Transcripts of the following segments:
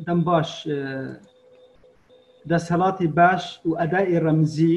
دەم باش دەسەڵاتی باش و ئەدای ڕەمزی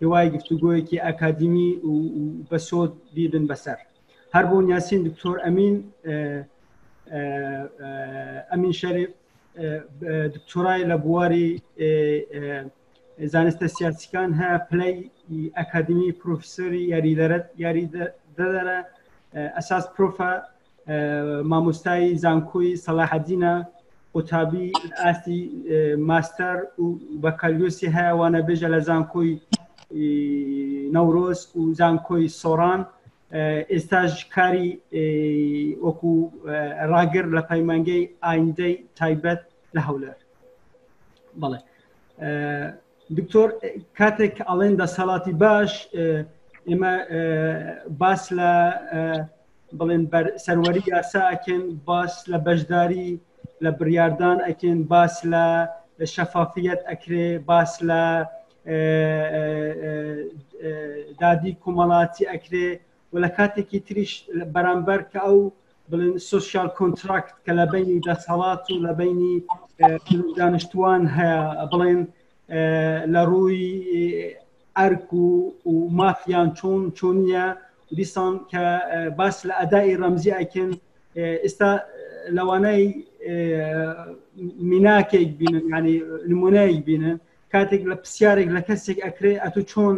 هیوای گفتوگۆیەکی ئەکادیمی و بەسۆد بیبن بەسەر هەر بۆ نیاسین دکتۆر ئەمین ئەمین شەریف دکتۆرای لە بواری زانستە سیاسیکان هە پلەی ئەکادمی پرۆفسۆری یاری دەرە یاری دەدەرە ئەساس پرۆفە مامۆستای زانکۆی سەلاحەدینە قوتابی ئاستی ماستەر و بەکالیۆسی هەیە وانە بێژە لە زانکۆی نەورۆز و زانکۆی سۆران ئێستاش کاری وەکو ڕاگر لە پەیمانگەی ئایندەی تایبەت لە هەولەر بەڵێ دکتۆر کاتێک کە ئەڵێن دەسەڵاتی باش ئێمە باس لە بڵێن سەروەری یاسا ئەکەن باس لە بەشداری لە بڕاردان ئەکەن باس لە شەفافیت ئەکرێ باس لە دادی کۆمەڵاتی ئەکرێ و لە کاتێکی تریش بەرامبەر کە ئەو بڵێن سوسیال کۆنتراکت کە لە بینی دەسەڵات و لە بینی دانیشتوان هەیە بڵێن لە ڕووی ئەرک و و مافیان چۆن چۆنیە دیسان کە باس لە ئەدای ڕەمزی ئەکن ئێستا لەوانەی میناکێک بینن ینی نمونەیەک بینن کاتێک لە پرسیارێک لە کەسێک ئەکرێ ئەتو چۆن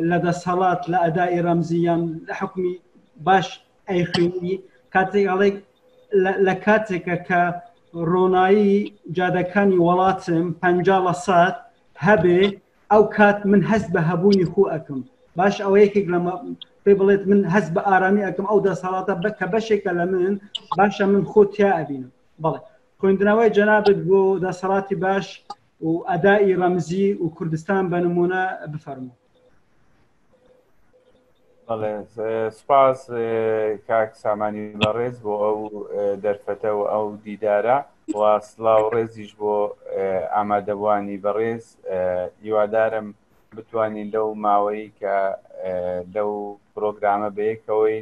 لە دەسهڵات لە ئەدای ڕەمزی یان لە حکومی باش ئەیخوێنی کاتێک هەڵێک لە کاتێکە کە ڕۆنایی جادەکانی وڵاتم پ لە سات هەبێ ئەو کات من هەست بە هەبوونی خو ئەکەم باش ئەوە یەکێک لە پێ بڵێت من هەست بە ئارامی ئەکەم ئەو دەسەڵاتە بە کە بەشێکە لە من باشە من خۆ تیا ئەبینم بەڵێ خوێندنەوەی جەنابەت بۆ دەسەڵاتی باش و ئەدائی ڕەمزی و کوردستان بە نمونە بفەرمو سپاس کاک سامانی بەڕێز بۆ ئەو دەرفەتە و ئەو دیدارە و سلااو ڕێزیش بۆ ئامادەبوانی بەڕێز هیوادارم بتوانین لەو ماوەی کە لەو پرۆگرامە بەیەکەوەی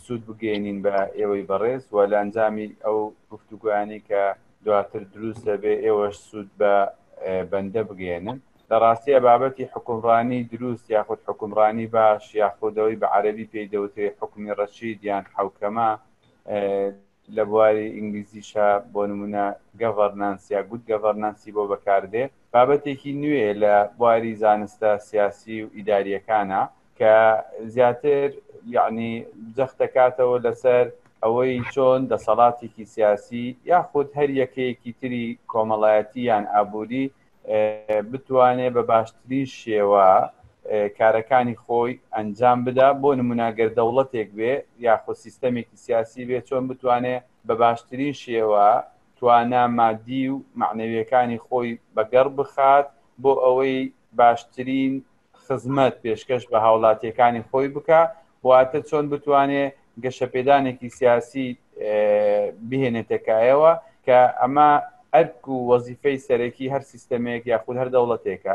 سوود بگەێنین بە ئێوەی بەڕێز و لە ئەنجامی ئەو گفتوگویانی کە دواتر دروست دەبێ ئێوەش سوود بە بەندە بگەێنن لە ڕاستیە بابەتی حکومڕانی دروست یاخود حکومڕانی باش یاخودەوەی بە عەربی پێی دەوترێ حکومی ڕەشید یان حوکەما لە بواری ئینگلیزیشا بۆ نموونە Governance یا Good Governance ی بۆ بەکاردێ، بابەتێکی نوێیە لە بواری زانستە سیاسی و ئیدارییەکانا کە زیاتر یەعنی جەخت دەکاتەوە لەسەر ئەوەی چۆن دەسەڵاتێکی سیاسی یاخود هەر یەکەیەکی تری کۆمەڵایەتی یان ئابووری بتوانێت بە باشترین شێوە کارەکانی خۆی ئەنجام بدا بۆ نموناگەر دەوڵەتێک بێ یاخۆ سیستەمێکی سیاسی بێ چۆن بتوانێت بە باشترین شێوە توانا مادی و معنەویەکانی خۆی بەگەڕ بخات بۆ ئەوەی باشترین خزمەت پێشکەش بە هاوڵاتیەکانی خۆی بکە واتە چۆن بتوانێ گەشەپێدانێکی سیاسی بهێنێتەکایەوە کە ئەمە ئەرک و وەزیفەی سەرەکی هەر سیستەمێک یاخود هەر دەوڵەتێکە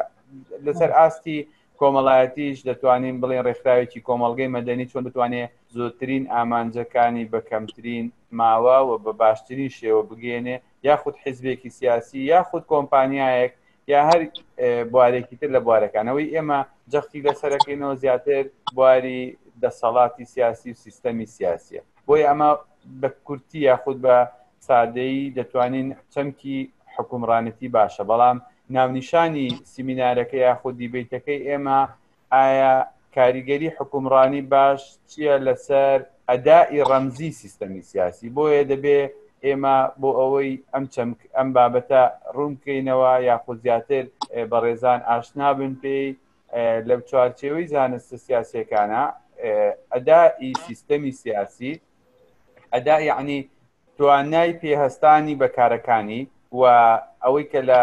لەسەر ئاستی کۆمەڵایەتیش دەتوانین بڵێن ڕێکخراوێکی کۆمەلگەی مەدەنی چۆن بتوانێ زۆترین ئامانجەکانی بە کەمترین ماوە و بە باشترین شێوە بگەێنێ یاخود حیزبێکی سیاسی یاخود کۆمپانیایەک یا هەر بوارێکی تر لە بوارەکانەوەی ئێمە جەختی لەسەرەکەینەوە زیاتر بواری دەسەڵاتی سیاسی و سیستەمی سیاسیە بۆی ئەمە بە کورتی یاخود بە سادەیی دەتوانین چەمکی حکومڕانەتی باشە بەڵام ناونیشانی سیمینارەکە یاخود دیبیتەکەی ئێمە ئایا کاریگەری حکومڕانی باش چییە لەسەر ئەدائی ڕەمزی سیستەمی سیاسی، بۆیە دەبێ ئێمە بۆ ئەوەی ئەم چەمک ئەم بابەتە ڕوون بکەینەوە یاخود زیاتر بەڕێزان ئاشنا بن پێی لە چوارچێوەی زانستە سیاسیەکانە ئەدائی سیستەمی سیاسی ئەدا یعنی توانای پێهستانی بە کارەکانی و ئەوەی کە لە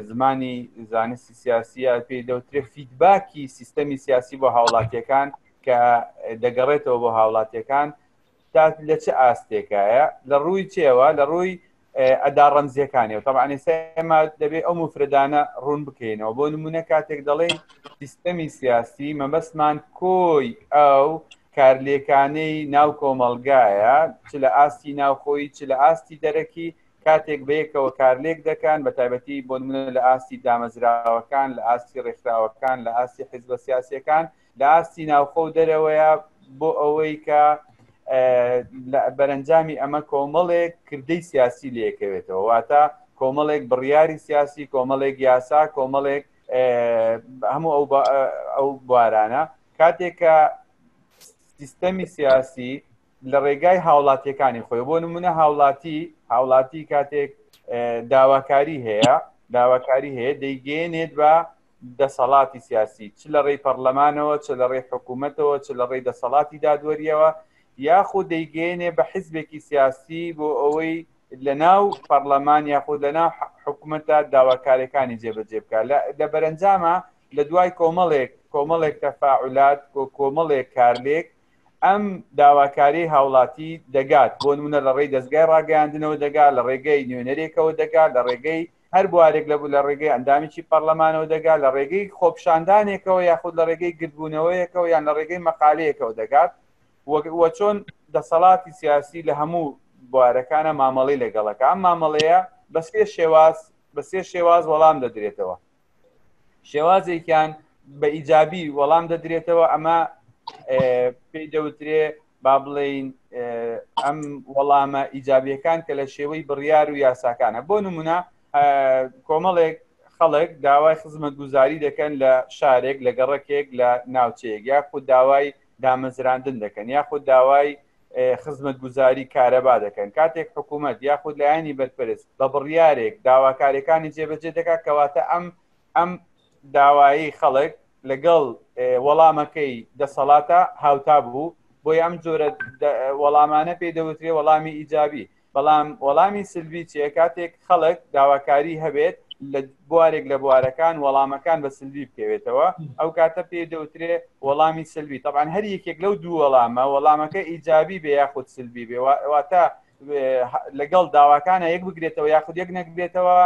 زمانی زانستی سیاسیە پێی دەوترێت فیدباکی سیستەمی سیاسی بۆ هاوڵاتیەکان کە دەگەڕێتەوە بۆ هاوڵاتیەکان تا لە چ ئاستێکایە لە ڕووی چێوە لە ڕووی ئەدا ڕەمزیەکانی و تەمانی سەما دەبێت ئەو مفردانە ڕوون بکەینەوە بۆ نمونە کاتێک دەڵێن سیستەمی سیاسی مەبەستمان کۆی ئەو کارلێکانەی ناو کۆمەڵگایە چ لە ئاستی ناوخۆی چ لە ئاستی دەرەکی کاتێک بەیەکەوە کارلێک دەکەن بە تایبەتی بۆ منە لە ئاستی دامەزراوەکان لە ئاستی ڕێکخراوەکان لە ئاستی حزبە سیاسەکان لە ئاستی ناوخۆ و دەرەوەیە بۆ ئەوەی کە بەرەنجامی ئەمە کۆمەڵێک کردەی سیاسی لەکەوێتەوە واتە کۆمەڵێک بڕیاری سیاسی کۆمەڵێک یاسا کۆمەڵێک هەموو ئەو بارانە کاتێک کە سیستەمی سیاسی لە ڕێگای هاوڵاتیەکانی خۆی بۆ نمونە هاوڵاتی هاوڵاتی کاتێک داواکاری هەیە داواکاری هەیە دەیگەێنێت بە دەسەڵاتی سیاسی چ لە ڕێی پەرلەمانەوە چ لە ڕێی حکوومەتەوە چ لە ڕێی دەسەڵاتی دادوەریەوە یاخود دەیگەێنێ بە حیزبێکی سیاسی بۆ ئەوەی لە ناو پەرلەمان یاخود لە ناو حکوومەتە داواکارەکانی جێبەجێ بکە لە بەرەنجامە لە دوای کۆمەڵێک کۆمەڵێک تەفاعولات کۆ کۆمەڵێک کارلێک ئەم داواکاری هاوڵاتی دەگات بۆ نمونە لە ڕێی دەستگای ڕاگەیاندنەوە دەگا لە ڕێگەی نوێنەرێکەوە دەگا لە ڕێگەی هەر بوارێک لە بوو لە ڕێگەی ئەندامیی پەرلەمانەوە دەگا لە ڕێگەی خۆپشاندانێکەوە یاخود لە ڕێگەی گردبوونەوەیەکەوە یان لە ڕێگەی مەقالەیەکەوە دەگات وە چۆن دەسەڵاتی سیاسی لە هەموو بوارەکانە مامەڵی لەگەڵەکە ئەم مامەڵەیە بە سێ شێواز بە سێ شێواز وەڵام دەدرێتەوە شێوازێکیان بە ئیجابی وەڵام دەدرێتەوە ئەمە پێی دەوترێ با بڵین ئەم وەڵامە ئیجابیەکان کە لە شێوەی بڕیار و یاساکانە بۆ نمونە کۆمەڵێک خەڵک داوای خزمەت گوزاری دەکەن لە شارێک لە گەڕکێک لە ناوچەیەک یاخود داوای دامەزراندن دەکەن یاخود داوای خزمەتگوزاری کارەبا دەکەن کاتێک حکوومەت یاخود لایەنی بەرپرس بە بڕیارێک داواکارەکانی جێبەجێ دەکات کەواتە ئەم ئەم داوایی خەڵک لەگەڵ وەڵامەکەی دەسەڵاتە هاوتا بوو بۆی ئەم جۆرە وەڵامانە پێی دەوترێ وەڵامی ئیجابی بەڵام وەڵامی سلڤی چیە کاتێک خەڵک داواکاری هەبێت لە بوارێک لە بوارەکان وەڵامەکان بە سلوی بکەوێتەوە ئەو کاتە پێ دەوترێ وەڵامی سلوی تەبان هەر یەکێک لەو دوو وەڵامە وەڵامەکە ئیجابی بێ یاخود سلبی بێواتە لەگەڵ داواکانە یەک بگرێتەوە یاخود یەک نەکبێتەوە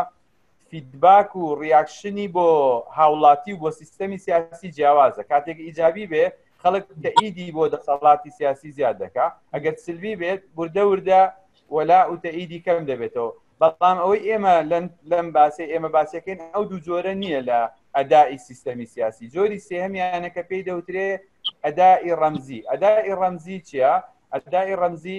فیدباک و ڕیاکشنی بۆ هاوڵاتی و بۆ سیستەمی سیاسی جیاوازە کاتێک ئیجابی بێ خەڵک کە ئیدی بۆ دەسەڵاتی سیاسی زیاد دەکا ئەگەر سلوی بێت بوردە وردە وەلا وتە ئیدی کەم دەبێتەوە بەڵام ئەوەی ئێمە لەم باسی ئێمە باسەکەین ئەو دوو جۆرە نییە لە ئەدای سیستەمی سیاسی جۆری سێهمیانە کە پێی دەوترێ ئەدای ڕەمزی ئەدای ڕەمزی چییە؟ ئەدای ڕەمزی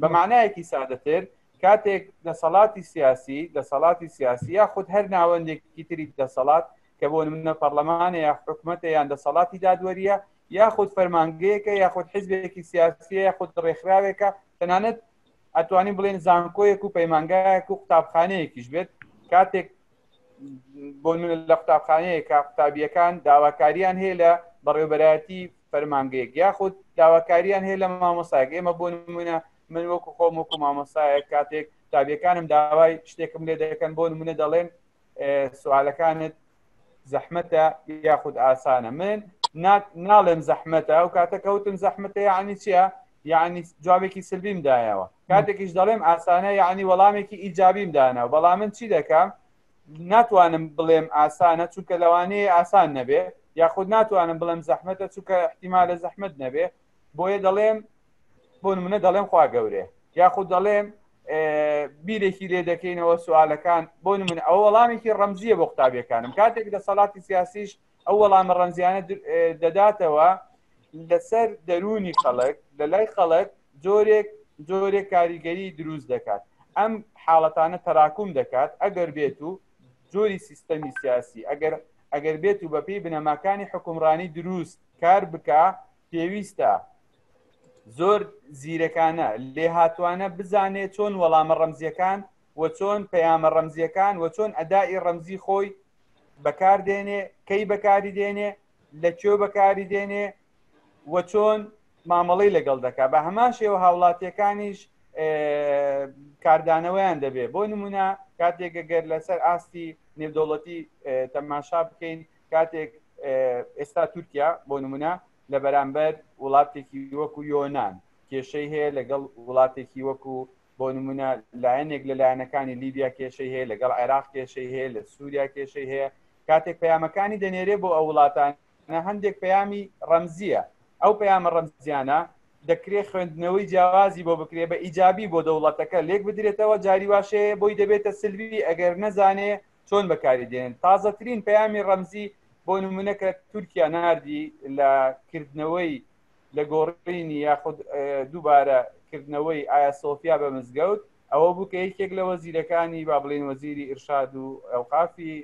بە مانایەکی سادەتر کاتێک دەسەڵاتی سیاسی دەسەڵاتی سیاسی یا خود هەر ناوەندێکی تری دەسەڵات کە بۆ منە پەرلەمانە یا حکوومەتە یان دەسەڵاتی دادوەریە یاخود فەرمانگەیەکە یاخود حزبێکی سیاسیە یاخود ڕێکخراوێکە تەنانەت ئەتوانی بڵێن زانکۆیەک و پەیمانگایەک و قوتابخانەیەکیش بێت کاتێک بۆ لە قوتابخانەیەکە قوتابیەکان داواکاریان هەیە لە بەڕێوبەرایەتی فەرمانگەیەک یاخود داواکاریان هەیە لە مامۆسایەک ئێمە بۆ نمونە من وەکو خۆم وەکو مامۆسایەک کاتێک تابیەکانم داوای شتێکم لێ دەکەن بۆ نمونە دەڵێن سوالەکانت زەحمەتە یاخود ئاسانە من ناڵێم زەحمەتە ئەو کاتە کەوتم زەحمەتە یعنی چیە یعنی جوابێکی سلبیم دایەوە کاتێکیش دەڵێم ئاسانە یعنی وەڵامێکی ئیجابیم داناوە بەڵام من چی دەکەم ناتوانم بڵێم ئاسانە چونکە لەوانەیە ئاسان نەبێ یاخود ناتوانم بڵێم زەحمەتە چونکە احتیمالە زەحمت نەبێ بۆیە دەڵێم بۆ منە دەڵێم خوا گەورێ یاخود دەڵێم بیرێکی لێ دەکەینەوە سوالەکان بۆ من ئەو وەڵامێکی ڕەمزیە بۆ قوتابیەکانم کاتێک دەسەڵاتی سیاسیش ئەو وەڵامە ڕەنجیانە دەداتەوە لەسەر دەرونی خەڵک لە لای خەڵک جۆرێک جۆرێک کاریگەری دروست دەکات ئەم حاڵەتانە تەراکوم دەکات ئەگەر بێت و جۆری سیستەمی سیاسی ئەگەر ئەگەر بێت و بەپی بنەماکانی حکومڕانی دروست کار بک پێویستە زۆر زیرەکانە لێهاتوانە بزانێت چۆن وەڵامە ڕەمزیەکان و چۆن پەیامە ڕەمزییەکان و چۆن ئەدائی ڕەمزی خۆی بەکار دێنێ کەی بەکاری دێنێ لە کوێ بەکاری دێنێ و چۆن مامەڵی لەگەڵ دەکا بە هەمان شێوە هاوڵاتیەکانیش کاردانەوەیان دەبێ بۆ نمونە کاتێکە گەر لەسەر ئاستی نێودەوڵەتی تەماشا بکەین کاتێک ئێستا تورکیا بۆ نمونە لە بەرامبەر وڵاتێکی وەکو یۆناان کێشەی هەیە لەگەڵ وڵاتێکی وەکو بۆ نمونە لایەنێک لە لایەنەکانی لیبیا کێشەی هەیە لەگەڵ عێراق کێشەی هەیە لە سووریا کێشەی هەیە کاتێک پەیامەکانی دەنێرێ بۆ ئەو وڵاتان هەندێک پەیامی ڕەمزیە ئەو پەیامە ڕەمزیانە دەکرێت خوێندنەوەی جیاوازی بۆ بکرێ بە ئیجابی بۆ دەوڵەتەکە لێک بدرێتەوە جاری واشەیە بۆی دەبێتە سلوی ئەگەر نەزانێ چۆن بەکاری دێن تازەترین پەیامی ڕەمزی بۆ نمونەکە تورکیا نردی لە کردنەوەی لە گۆڕینی یاخود دووبارە کردنەوەی ئایا سۆفیا بە مزگەوت ئەوە بوو کە یەکێک لە وەزیرەکانی با بڵێن وەزیری ئرشاد و ئەوقافی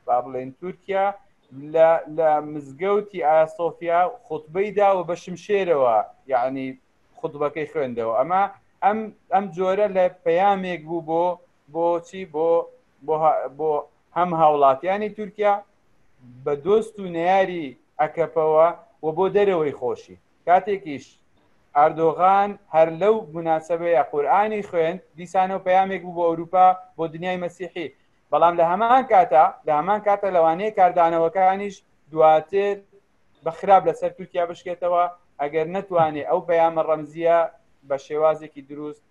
با بڵێن تورکیا لە مزگەوتی ئایا سۆفیا خطبەی داوە بە شمشێرەوە یعنی خطبەکەی خوێندەوە ئەمە ئەم ئەم جۆرە لە پەیامێک بوو بۆ بۆچی بۆ بۆ هەم هاوڵاتیانی تورکیا بە دۆست و نەیاری ئەکەپەوە و بۆ دەرەوەی خۆشی کاتێکیش ئەردۆغان هەر لەو مناسبەیە قورآانی خوێند دیسانەوە پەیامێک بوو بۆ ئەوروپا بۆ دنیای مەسیحی بەڵام لە هەمان کاتە لە هەمان کاتە لەوانەیە کاردانەوەکانیش دواتر بە خراپ لەسەر تورکیا بشکێتەوە ئەگەر نەتوانێ ئەو پەیامە ڕەمزیە بە شێوازێکی دروست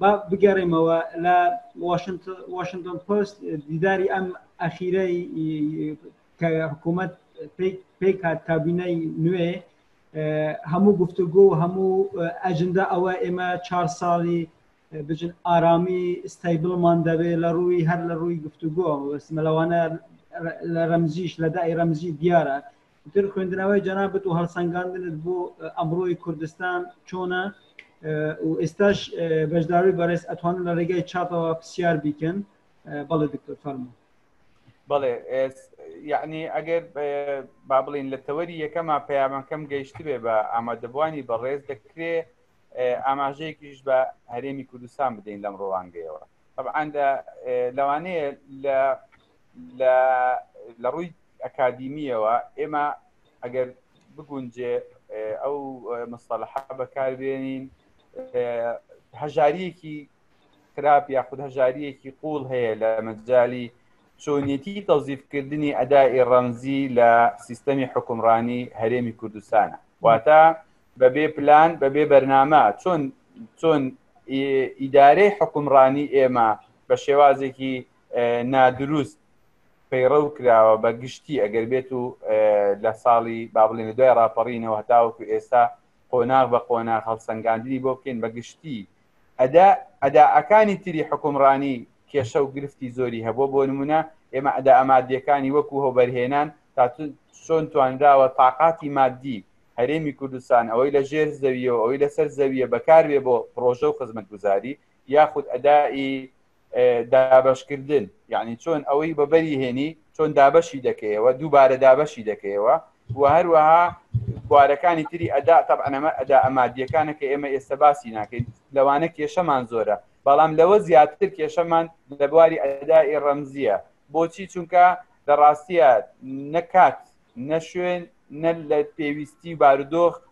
با بگەڕێمەوە لە واشنگتن پست دیداری ئەم ئەخیرەی کە حکوومەت پێی کات کابینەی نوێ هەموو گفتوگۆ و هەموو ئەجندا ئەوە ئێمە چهار ساڵی بجن ئارامی ستایبلمان دەبێت لە ڕووی هەر لە ڕووی گفتوگۆ وەسمەلەوانە لە ڕەمزیش لە دای ڕەمزی دیارە تر خوێندنەوەی جەنابەت و هەڵسەنگاندنت بۆ ئەمڕۆی کوردستان چۆنە و ئێستاش بەشداروی بەڕێز ئەتوانن لە ڕێگای چاپەوە پرسیار بیکەن بەڵێ دکتۆر فەرمو بەڵێ یعنی ئەگەر با بڵین لە تەوەری یەکەمە پەیامەکەم گەیشتبێ بە ئامادەبوانی بەڕێز دەکرێ ئاماژەیەکیش بە هەرێمی کوردستان بدەین لەم ڕوانگەیەوە طبعا لەوانەیە لە لە ڕووی ئەکادیمیەوە ئێمە ئەگەر بگونجێ ئەو مستەلح بەکاربێنین هەژاریەکی خراپ یاخود هەژاریەکی قوڵ هەیە لە مەجای چۆنیەتی تەوزیفکردنی ئەدای ڕەمزی لە سیستەمی حکومڕانی هەرێمی کوردستانە واتە بەبێ پلان بەبێ بەرنامە چۆن چۆن ئیدارەی حکومڕانی ئێمە بە شێوازێکی نادروست پەیڕەو کراوە بە گشتی ئەگەر بێت و لە ساڵی با بڵێن لە دوای ڕاپەڕینەوە هەتاوەکو ئێستا قۆناغ بە قۆناغ هەڵسەنگاندنی بۆ بکەین بە گشتی ئەدا ئەداعەکانی تری حکومڕانی کێشە و گرفتی زۆری هەبوو بۆ نمونە ئێمە ئەدا ئەمادیەکانی وەکو هەوبەرهێنان تا چۆن توانراوە تااقاتی مادی هەرێمی کوردستان ئەوەی لە ژێر زەویەوە ئەوەی لەسەر زەویە بەکارێ بۆ پرۆژە و خزمەت گوزاری یاخود ئەدای دابەشکردن یعنی چۆن ئەوەی بەبەری هێنی چۆن دابەشی دەکەیەوە دووبارە دابەشی دەکەیەوە و هەروەها بوارەکانی تری ئەدا تەبەنەمە ئەدا ئەمادیەکانە کە ئێمە ئێستا باسی ناکەین لەوانە کێشەمان زۆرە بەڵام لەوە زیاتر کێشەمان لە بواری ئەدای ڕەمزیە بۆچی چونکە لە ڕاستیە نەکات نەشوێن نە لە پێویستی بارودۆخ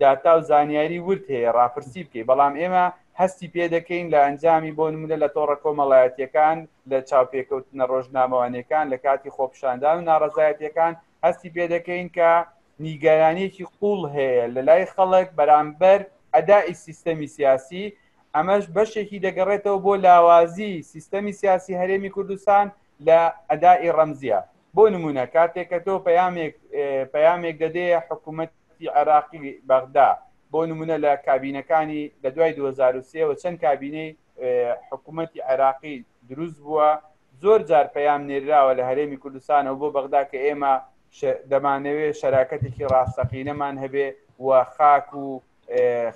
داتا و زانیاری ورد هەیە ڕاپرسی بکەیت بەڵام ئێمە هەستی پێ دەکەین لە ئەنجامی بۆ نمونە لە تۆڕە کۆمەڵایەتیەکان لە چاوپێکەوتنە ڕۆژنامەوانیەکان لە کاتی خۆپشاندان و ناڕزایەتەکان هەستی پێ دەکەین کە نیگەرانیەکی قوڵ هەیە لە لای خەڵک بەرامبەر ئەدای سیستەمی سیاسی ئەمەش بەشێکی دەگەڕێتەوە بۆ لاوازی سیستەمی سیاسی هەرێمی کوردستان لە ئەدای ڕەمزیە بۆ نمونە کاتێکە تۆ پەیامێک پەیامێک دەدێ حکوومەت حکومەتی عێراقی بەغدا بۆ نمونە لە کابینەکانی لە دوای دوو هەزار و سێ وە چەند کابینەی حکومەتی عێراقی دروست بووە زۆر جار پەیام نێراوە لە هەرێمی کوردستانەوە بۆ بەغدا کە ئێمە دەمانەوێت شەراکەتێکی ڕاستەقینەمان هەبێ و خاک و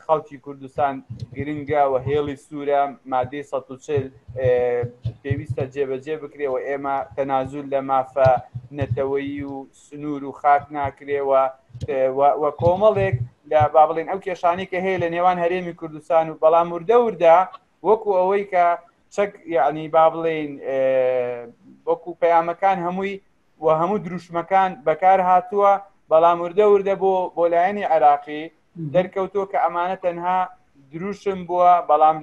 خەڵکی کوردستان گرنگە و هێڵی سوورە مادەی ١40 پێویستە جێبەجێ بکرێ و ئێمە تەنازول لە مافە نەتەوەیی و سنوور و خاک ناکرێەوە و کۆمەڵێک لە با بڵێن ئەو کێشانی کە هەیە لە نێوان هەرێمی کوردستان و بەڵام وردە وردە وەکو ئەوەی کە چەک یعنی با بڵێن وەکو پەیامەکان هەمووی و هەموو دروشمەکان بەکار هاتووە بەڵام وردە وردە بۆ بۆ لایەنی عراقی دەرکەوتۆ کە ئەمانە تەنها دروشم بووە بەڵام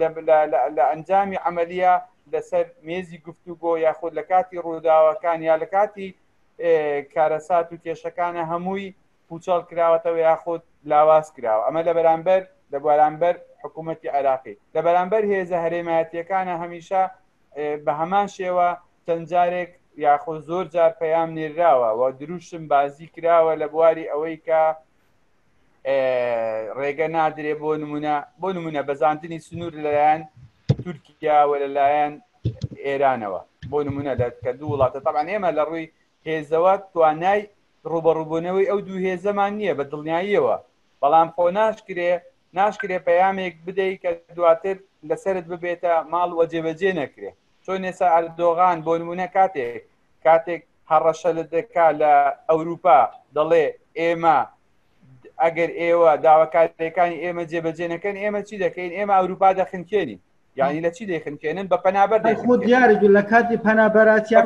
لە ئەنجامی عملیە لەسەر مێزی گفتوگۆ یاخود لە کاتی ڕووداوەکان یا لە کاتی کارەسات و کێشەکانە هەمووی پوچەڵ کراوەتەوە یاخود لاواز کراوە ئەمە لە بەرامبەر لە بارامبەر حکوومەتتی عێراقی لە بەرامبەر هێزە هەرێمایەتیەکانە هەمیشە بە هەمان شێوە چەند جارێک یاخۆ زۆر جار پەیام نێراوە و دروشم بازی کراوە لە بواری ئەوەی کە ڕێگە نادرێ بۆ نمونە بۆ نمونە بەزاندنی سنوور لەلایەن تورکیاوە لەلایەن ئێرانەوە بۆ نمونە لە کە دوو وڵاتە تاان ئێمە لە ڕووی هێزەوە توانای ڕوبەڕووبوونەوەی ئەو دوو هێزەمان نییە بە دڵنیاییەوە بەڵام خۆ ناشکرێ ناشکرێ پەیامێک بدەیت کە دواتر لەسرت ببێتە ماڵ وە جێبەجێ نەکرێ چۆن نێسا ئەردۆغان بۆ نمونە کاتێک کاتێک هەڕەشە لە دەکا لە ئەوروپا دەڵێ ئێمە ئەگەر ئێوە داواکارەکانی ئێمە جێبەجێ نەکەن ئێمە چی دەکەین ئێمە ئەوروپا دەخنکێنی یعنی لە چی دەیخنکێنن بە پەنابەر خۆ دیارێک لە کاتی پەنابەراتیان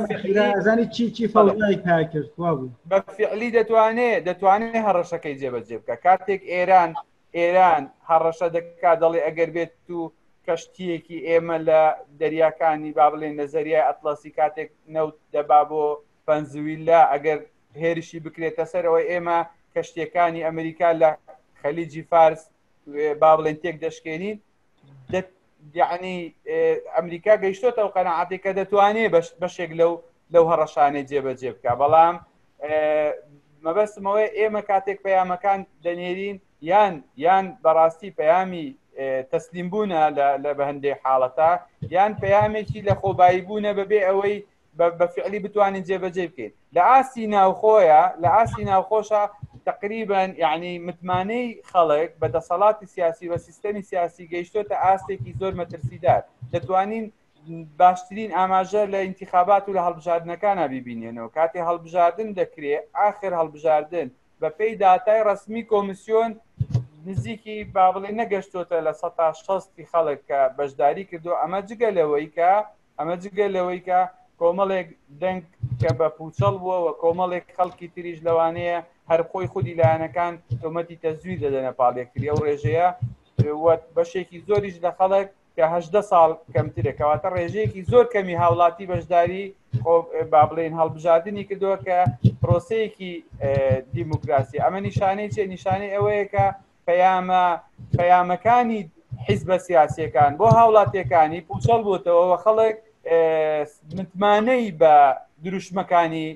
ئەزانی چی چی فەڵی پاکرد بوو بە فعلی دەتوانێت دەتوانێت هەڕەشەکەی جێبەجێ بکە کاتێک ئێران ئێران هەڕەشە دەکات، دەڵێت ئەگەر بێت و کەشتییەکی ئێمە لە دەریاکانی با بڵێین لە زەریای ئەتڵەسی کاتێک نەوت دەبا بۆ ڤەنزویلا، ئەگەر هێرشی بکرێتە سەرەوە، ئێمە کەشتییەکانی ئەمریکا لە خەلیجی فارس با بڵێین تێکدەشکێنین. یعنی ئەمریکا گەیشتۆتە ئەو قەنەعاتی کە دەتوانێت بەشێک لەو لەو هەڕەشانەی جێبەجێ بکە بەڵام مەبەستمەوەی ئێمە کاتێک پەیامەکان دەنێرین یان یان بەڕاستی پەیامی تەسلیم بوونە لە بە هەندێک حاڵەتە یان پەیامێکی لە خۆبایی بوونە بەبێ ئەوەی بە فعلی بتوانین جێبەجێ بکەین لە ئاستی ناوخۆیە لە ئاستی ناوخۆشە تقریبان یعنی متمانەی خەڵک بە دەسەڵاتی سیاسی بە سیستەمی سیاسی گەیشتۆتە ئاستێکی زۆر مەترسیدار دەتوانین باشترین ئاماژە لە انتخابات و لە هەڵبژاردنەکانە بیبینێنەوە کاتێ هەڵبژاردن دەکرێ ئاخر هەڵبژاردن بە پێی داتای ڕسمی کۆمسیۆن نزیکی با بڵێ نەگەشتوتە لە 1600 خەڵک کە بەشداری کردو ئەمە جگە لەوەی کە ئەمە جگە لەوەی کە کۆمەڵێک دەنگ کە بە پوچەڵ بووە و کۆمەڵێک خەڵکی تریش لەوانەیە هەر خۆی خودی لایەنەکان تۆمەتی تەزویر دەدەنە پاڵێکتری ئەو ڕێژەیە بەشێکی زۆریش لە خەڵک کە هەدە ساڵ کەمترە کەواتە ڕێژەیەکی زۆر کەمی هاوڵاتی بەشداری با بڵێن هەڵبژاردننی کردووە کە پرۆسەیەکی دیموکراسی ئەمە نیشانەی چێ نیشانەی ئەوەیە کە پەیامە پەیامەکانی حیزبە سیاسەکان بۆ هاوڵاتیەکانی پوچەڵ بووتەوەەوە خەڵک متمانەی بە دروشمەکانی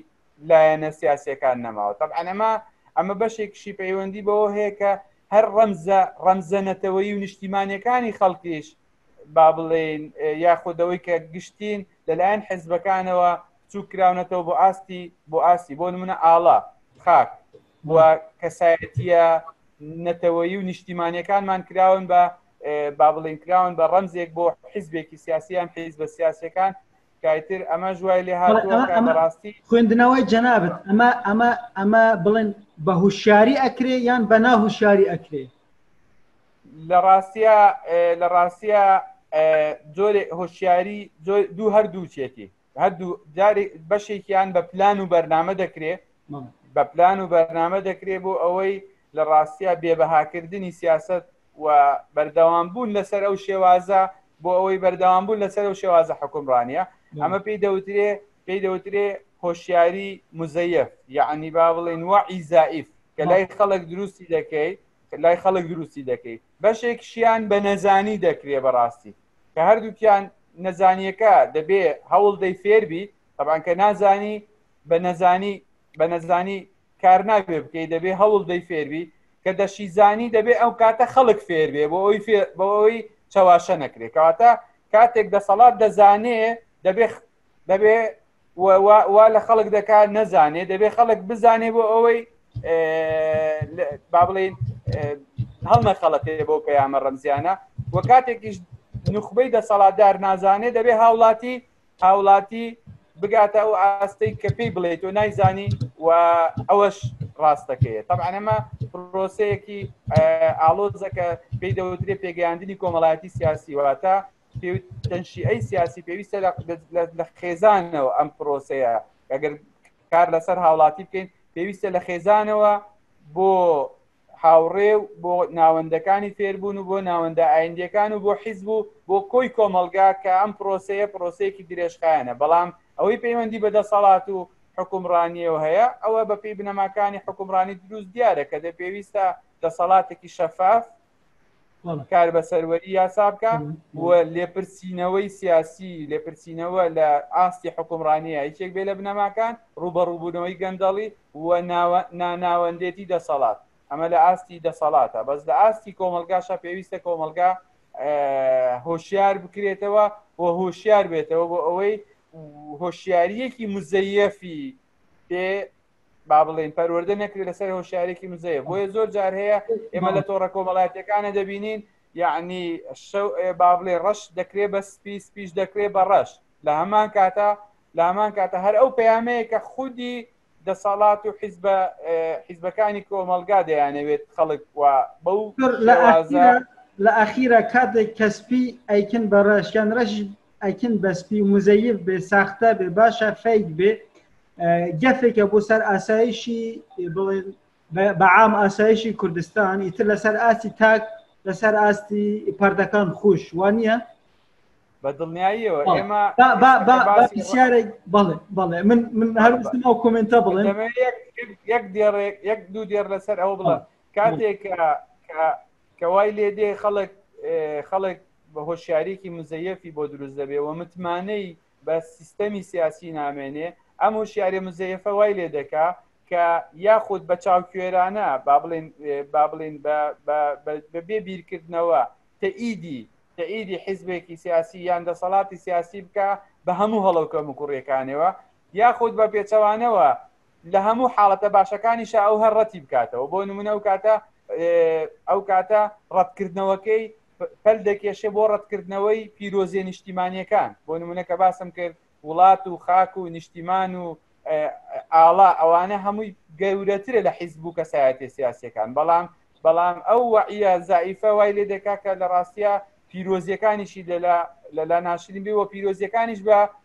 لایەنە سیاسەکان نەماوە تەب ئەنەما ئەمە بەشێکشی پەیوەندی بەوە هەیە کە هەر ڕەمزە ڕەمزە نەتەوەی و نیشتیمانەکانی خەڵکیش با بڵێن یاخودەوەی کە گشتین لەلایەن حزبەکانەوە چوو کراونەتەوە بۆ ئاستی بۆ ئاستی بۆ نمونە ئاڵا خاک و کەسایەتیە نەتەوەیی و نیشتیمانیەکانمان کراون بە با بڵین کراون بە ڕەمزێک بۆ حیزبێکی سیاسیان حیز بە سیاسەکان کایتر ئەمە ژوای لێ هاڕاستی خوێندنەوەی جەنابەت ئەمە ئەمە ئەمە بڵێن بە هوشیاری ئەکرێ یان بە ناهوشاری ئەکرێ لە ڕاستە لە ڕاستە جۆرێ هۆشیاری دوو هەردوو چێتی هەردوو جارێک بەشێکیان بە پلان و بەرنامە دەکرێت بە پلان و بەرنامە دەکرێت بۆ ئەوەی لە ڕاستە بێبەهاکردنی سیاست و بەردەوام بوون لەسەر ئەو شێوازە بۆ ئەوەی بەردەوام بوون لەسەر ئەو شێوازە حکومڕانە ئەمە پێی دەوترێ پێی دەوترێ هۆشیاری مزەیف یعنی با بڵێن وە عیزائیف کە لای خەڵک دروستی دەکەیت لای خەڵک دروستی دەکەیت بەشێکشیان بە نەزانی دەکرێ بەڕاستی کە هەردووکیان نەزانیەکە دەبێ هەوڵدەی فێربی تەبان کە نازانی بە نەزانی بە نەزانی کار نابێ بکەی دەبێ هەوڵ دەی فێربی کە دەشیزانی دەبێ ئەو کاتە خەڵک فێر بێ بۆ ئەوی بۆ ئەوی چەواشە نەکرێ کەواتە کاتێک دەسەڵات دەزانێ دەبێ دەبێ وا لە خەڵک دەکات نەزانێ دەبێ خەڵک بزانێ بۆ ئەوەی با بڵین هەڵمە خەڵەتێ بۆ پەیامە ڕەمزیانە وە کاتێکیش نخبەی دەسەڵاتدار نازانێ دەبێ هاوڵاتی هاوڵاتی بگاتە ئەو ئاستەی کە پێی بڵێت و نایزانی و ئەوەش ڕاستەکەیە تەعاەمە پرۆسەیەکی ئالۆزەکە پێی دەوترێ پێگەیاندنی کۆمەڵایەتی سیاسی واتە تەنشیئەی سیاسی پێویستە لە خێزانەوە ئەم پرۆسەیە ئەگەر کار لەسەر هاوڵاتی بکەین پێویستە لە خێزانەوە بۆ هاوڕێ و بۆ ناوەندەکانی فێربوون و بۆ ناوەندە ئایندەکان و بۆ حیزب و بۆ کۆی کۆمەلگا کە ئەم پرۆسەیە پرۆسەیەکی درێژخایەنە بەڵام ئەوەی پەیوەندی بە دەسەڵات و حکومڕانیەوە هەیە ئەوە بەپی بنەماکانی حکومڕانی دروست دیارە کە دە پێویستە دەسەڵاتێکی شەفاف کار بە سەروەری یاسا بکە و لێپرسینەوەی سیاسی لێپرسینەوە لە ئاستی حکومڕانیە یەکێک بێ لە بنەماکان ڕوبەڕووبوونەوەی گەندەڵی و ناناوەندێتی دەسەڵات ئەمە لە ئاستی دەسەڵاتە بەس لە ئاستی کۆمەلگاشە پێویستە کۆمەلگا هۆشیار بکرێتەوە و هۆشیار بێتەوە بۆ ئەوەی هۆشیاریەکی مزەیەفی پێ با بڵێن پەروەەردە نەکرێت لەسەر هۆشارێکی مزەیە بۆیە زۆر جار هەیە ئێمە لە تۆڕە کۆمەڵایەتەکانە دەبینین یعنی شەو با بڵێ ڕەش دەکرێ بە سپی سپیش دەکرێ بە ڕەش لە هەمان کاتە لە هەمان کاتە هەر ئەو پەیامەیە کە خودی دەسەڵات و حیزبە حیزبەکانی کۆمەلگا دەیانەوێت خەڵک و بەو لە ئەخیرە کاتێک کەسپی ئەیکن بە ڕەشیان ڕەش ئەکن بە سپی و مزەیف بێ ساختە بێ باشە فەیک بێ گەفێکە بۆ سەر ئاسایشی بڵێن بەعام ئاسایشی کوردستان ئیتر لەسەر ئاستی تاک لەسەر ئاستی پردەکان خوش وان نییە بە دڵنیاییەوە ئێمە بەسیارێک بڵێ بڵێ من من هەرستم ئەو کمنتە بڵێ یەک دێڕێک یەک دوو دێر لەسەر ئەو بڵە کاتێک کە وای لێ دێ خەڵک خەڵک بە هۆشیارێکی مزەیەفی بۆ دروست دەبێ و متمانەی بە سیستەمی سیاسی نامێنێ ئەم هۆشیارە مزەیەفە وای لێ دەکا کە یاخود بە چاوکوێرانە با بڵێن با بڵێن بە بێ بیرکردنەوە تەئیدی تەئیدی حیزبێکی سیاسی یان دەسەڵاتی سیاسی بکە بە هەموو هەڵەوکە مکوڕیەکانەوە یاخود بە پێچەوانەوە لە هەموو حاڵەتە باشەکانیشا ئەو هەر ڕەتی بکاتەوە بۆ نمونە ئەو کاتە ئەو کاتە ڕەتکردنەوەکەی پەل دەکێشێ بۆ ڕەتکردنەوەی پیرۆزیە نیشتیمانیەکان بۆ نمونە کە باسم کرد وڵات و خاک و نیشتیمان و ئاڵا ئەوانە هەمووی گەورەترە لە حیزب و کەسایەتی سیاسەکان بەڵام بەڵام ئەو وعە زائیفە وای لێ دەکا کە لە ڕاستە پیرۆزیەکانیشی لەلا لەلا ناشرین بێ و پیرۆزیەکانیش بە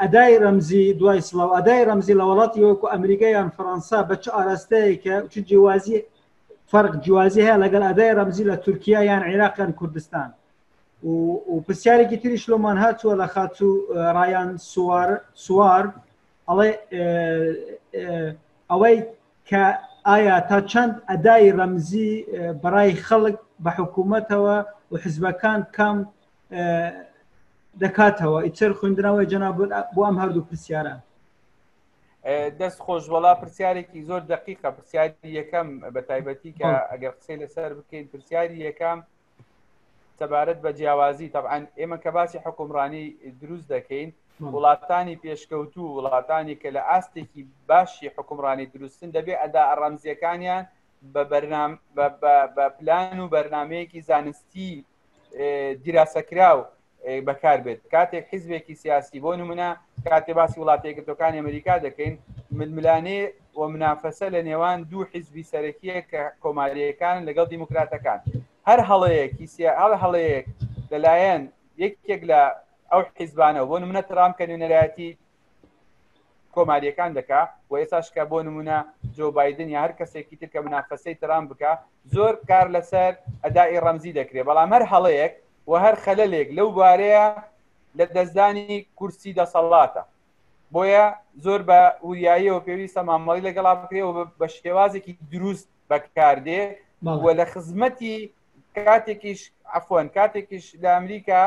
ئەدای ڕەمزی دوای سڵاو ئەدای ڕەمزی لە وڵاتی وەکو ئەمریکا یان فەەنسا بە چ ئاراستەیەکە چ جیوازی فەرق جیوازی هەیە لەگەڵ ئەدای ڕەمزی لە تورکیا یان عێراقیان کوردستان و پرسیارێکی تریش لۆمان هاتووە لە خاتو ڕایان سوار سوار ئەڵێ ئەوەی کە ئایا تا چەند ئەدای ڕەمزی بەڕای خەڵک بە حکوومەتەوە و حزبەکان کام دەکاتەوە ئیتر خوێندراوەی جەنا بۆ ئەم هەردوو پرسیارە دەست خۆش وڵا پرسیارێکی زۆر دقیقە پرسیاری یەکەم بە تایبەتی کە ئەگەر قسەی لەسەر بکەین پرسیاری یەکەم سەبارەت بە جیاوازی طبعاان ئێمە کە باسی حکومڕانی دروست دەکەین وڵاتانی پێشکەوتوو وڵاتانی کە لە ئاستێکی باشی حکومڕانی دروستن دەبێ ئەدا ئەڕەمزیەکانیان بە بەرنام بە پلان و بەرنمەیەکی زانستی دیراسەکراو بەکار بێت کاتێک حیزبێکی سیاسی بۆ نمونە کاتێ باسی وڵاتێکردەکانی ئەمریکا دەکەین ململانێ و منافەسە لە نێوان دوو حیزبی سەرەکیە کە کۆماریەکان لەگەڵ دیموکراتەکان هەر هەڵەیەکی هەڵ هەڵەیەک لەلایەن یەکێک لە ئەو حیزبانە بۆ منە ترام کە نوێنەرایەتی کۆماریەکان دەکا و ئێساشکە بۆ نمونە جۆ بادن یا هەر کەسێکی ترکە منافەسەی ترام بکە زۆر کار لەسەر ئەدای ڕەمزی دەکرێت بەڵام هەر هەڵەیەک و هەر خەلەلێک لەو بارەیە لە دەستدانی کورسی دەسەڵاتە بۆیە زۆر بە وریاییەوە پێویستە مامەڵی لەگەڵا بکرێەوە بە شێوازێکی دروست بەکاردێ و لە خزمەتی کاتێکیش ئەفۆن کاتێکیش لە ئەمریکا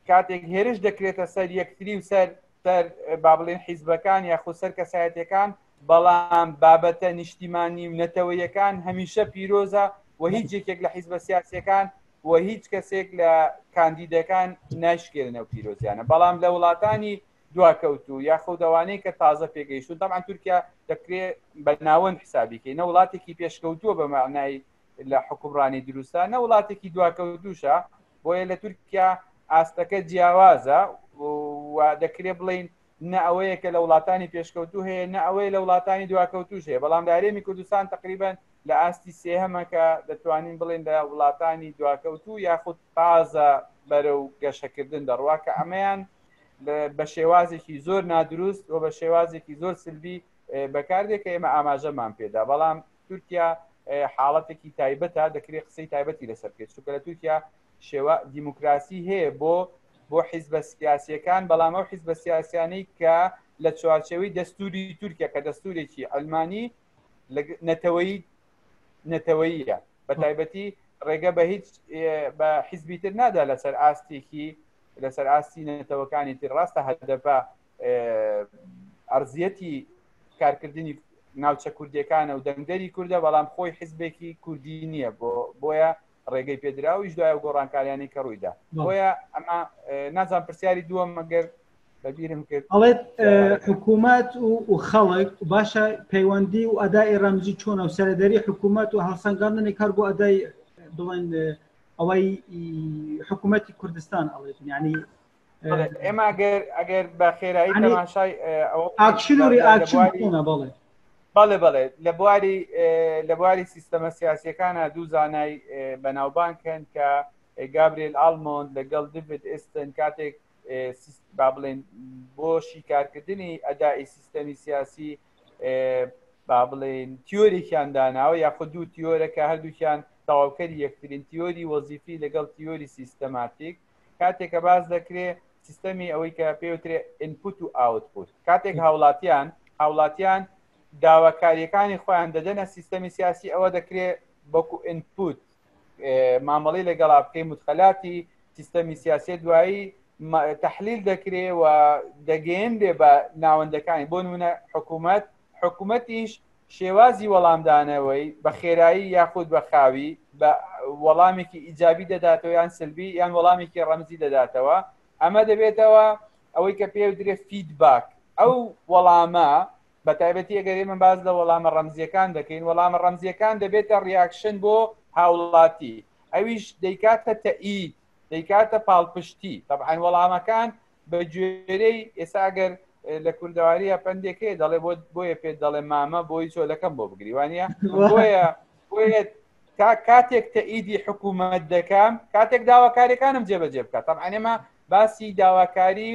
کاتێک هێرش دەکرێتە سەر یەکتری و سەر سەر با بڵێن حیزبەکان یا خۆ سەر کەسایەتەکان بەڵام بابەتە نیشتیمانی و نەتەوەیەکان هەمیشە پیرۆزە و هیچ یەکێک لە حیزبە سیاسەکان و هیچ کەسێک لە کاندیدەکان ناشکێنە و پیرۆزیانە بەڵام لە وڵاتانی دواکەوتو یا خودەوانەی کە تازە پێگەیشتون تاان تورکیا دەکرێت بە ناوەند حسابیکەی نە وڵاتێکی پێشکەوتووە بە معنای لە حکومڕانی دروستە نە وڵاتێکی دواکە دووشە بۆیە لە تورکیا ئاستەکە جیاوازە و دەکرێ بڵین نە ئەوەیە کە لە وڵاتانی پێشکەوتو هەیە نە ئەوەیە لە وڵاتانی دواکەوتوش هەیە بەڵام دارێمی کوردستان تقریبان لە ئاستی سێهەمەکە دەتوانین بڵێن لە وڵاتانی دواکەوتو یاخود تازە بەرە و گەشەکردن دەڕوا کە ئەمەیان بە شێوازێکی زۆر نادروست و بە شێوازێکی زۆر سلبی بەکاردێک کە ئێمە ئاماژەمان پێدا بەڵام تورکیا حاڵەتێکی تایبەتە دەکرێت قسەی تایبەتی لەسەر بکەیت چونکە لە تورکیا شێوە دیموکراسی هەیە بۆ بۆ حیزبە سیاسیەکان بەڵام ئەو حیزبە سیاسیانەی کە لە چوارچەوەی دەستوری تورکیا کە دەستورێکی ئەلمانی نەتەوەی نەتەوەیە بە تایبەتی ڕێگە بە هیچ بە حیزبی تر نادا لەسەر ئاستێکی لەسەر ئاستی نەتەوەکانی تر ڕاستە هەدەپە ئەرزیەتی کارکردنی ناوچە کوردەکانە و دەنگدەری کووردە بەڵام خۆی حزبێکی کوردی نییە بۆ بۆیە ڕێگەی پێدراویش دوای و گۆڕانکاریانی کە ڕوویدا بۆیە ئەمە نازان پرسیاری دووە مەگەر بەبیرم کرد ئەڵێت حکوومەت و خەڵک باشە پەیوەندی و ئەدای ڕەمزی چۆنە و سەردەری حکوومەت و هەڵسەنگاندنی کار بۆ ئەدای بڵێن ئەوەی حکوومەتی کوردستان ئەڵێت ینی ئێمە ئەگەر ئەگەر بە خێرایی تەماشای ئەوە ئاکشن و ریئاکشن بکەنە بەڵێ بەڵێ بەڵێ لە بواری لە بواری سیستەمە سیاسیەکانە دوو زانای بەناوبان کەن کە گابریل ئالمۆند لەگەڵ دیڤید ئستن کاتێک با بڵێن بۆ شیکارکردنی ئەدای سیستەمی سیاسی با بڵێن تیۆریکیان داناوە یاخود دوو تیۆرە کە هەردووکیان تەواوکەری یەکترین تیۆری وەزیفی لەگەڵ تیۆری سیستەماتیک کاتێک کە باس دەکرێ سیستەمی ئەوەی کە پێوترێ ئینپوت و ئاوتپوت کاتێک هاوڵاتیان هاوڵاتیان داواکاریەکانی خۆیان دەدەنە سیستەمی سیاسی ئەوە دەکرێت بەکو ئینپوت مامەڵی لەگەڵا بکەی متخەلاتی سیستەمی سیاسی دوایی تحلیل دەکرێ و دەگەێن بێ بە ناوەندەکانی بۆ منە حکوومەت حکومەتیش شێوازی وەڵامدانەوەی بە خێرایی یاخود بە خاوی بە وەڵامێکی ئیجابی دەداتەوە یان سلبی یان وەڵامێکی ڕەمزی دەداتەوە ئەمە دەبێتەوە ئەوەی کە پێ درێ فیدباک ئەو وەڵامە بە تایبەتی ئەگەری من باز لە وەڵامە ڕەمزیەکان دەکەین وەڵامە ڕەمزیەکان دەبێتە ڕیاکشن بۆ هاوڵاتی ئەویش دەیکاتە تەئید دەیکاتە پاڵپشتی طبعاان وەڵامەکان بە گوێرەی ئێستا ئەگەر لە کوردەواریە پندێکێ دەڵێ بۆ بۆیە پێ دەڵێ مامە بۆی چۆلەکەم بۆ بگریوانە بۆیە بۆیە تا کاتێک تەئیدی حکوومەت دەکەم کاتێک داواکاریەکانم جێبەجێ بکات تام ئەنێمە باسی داواکاری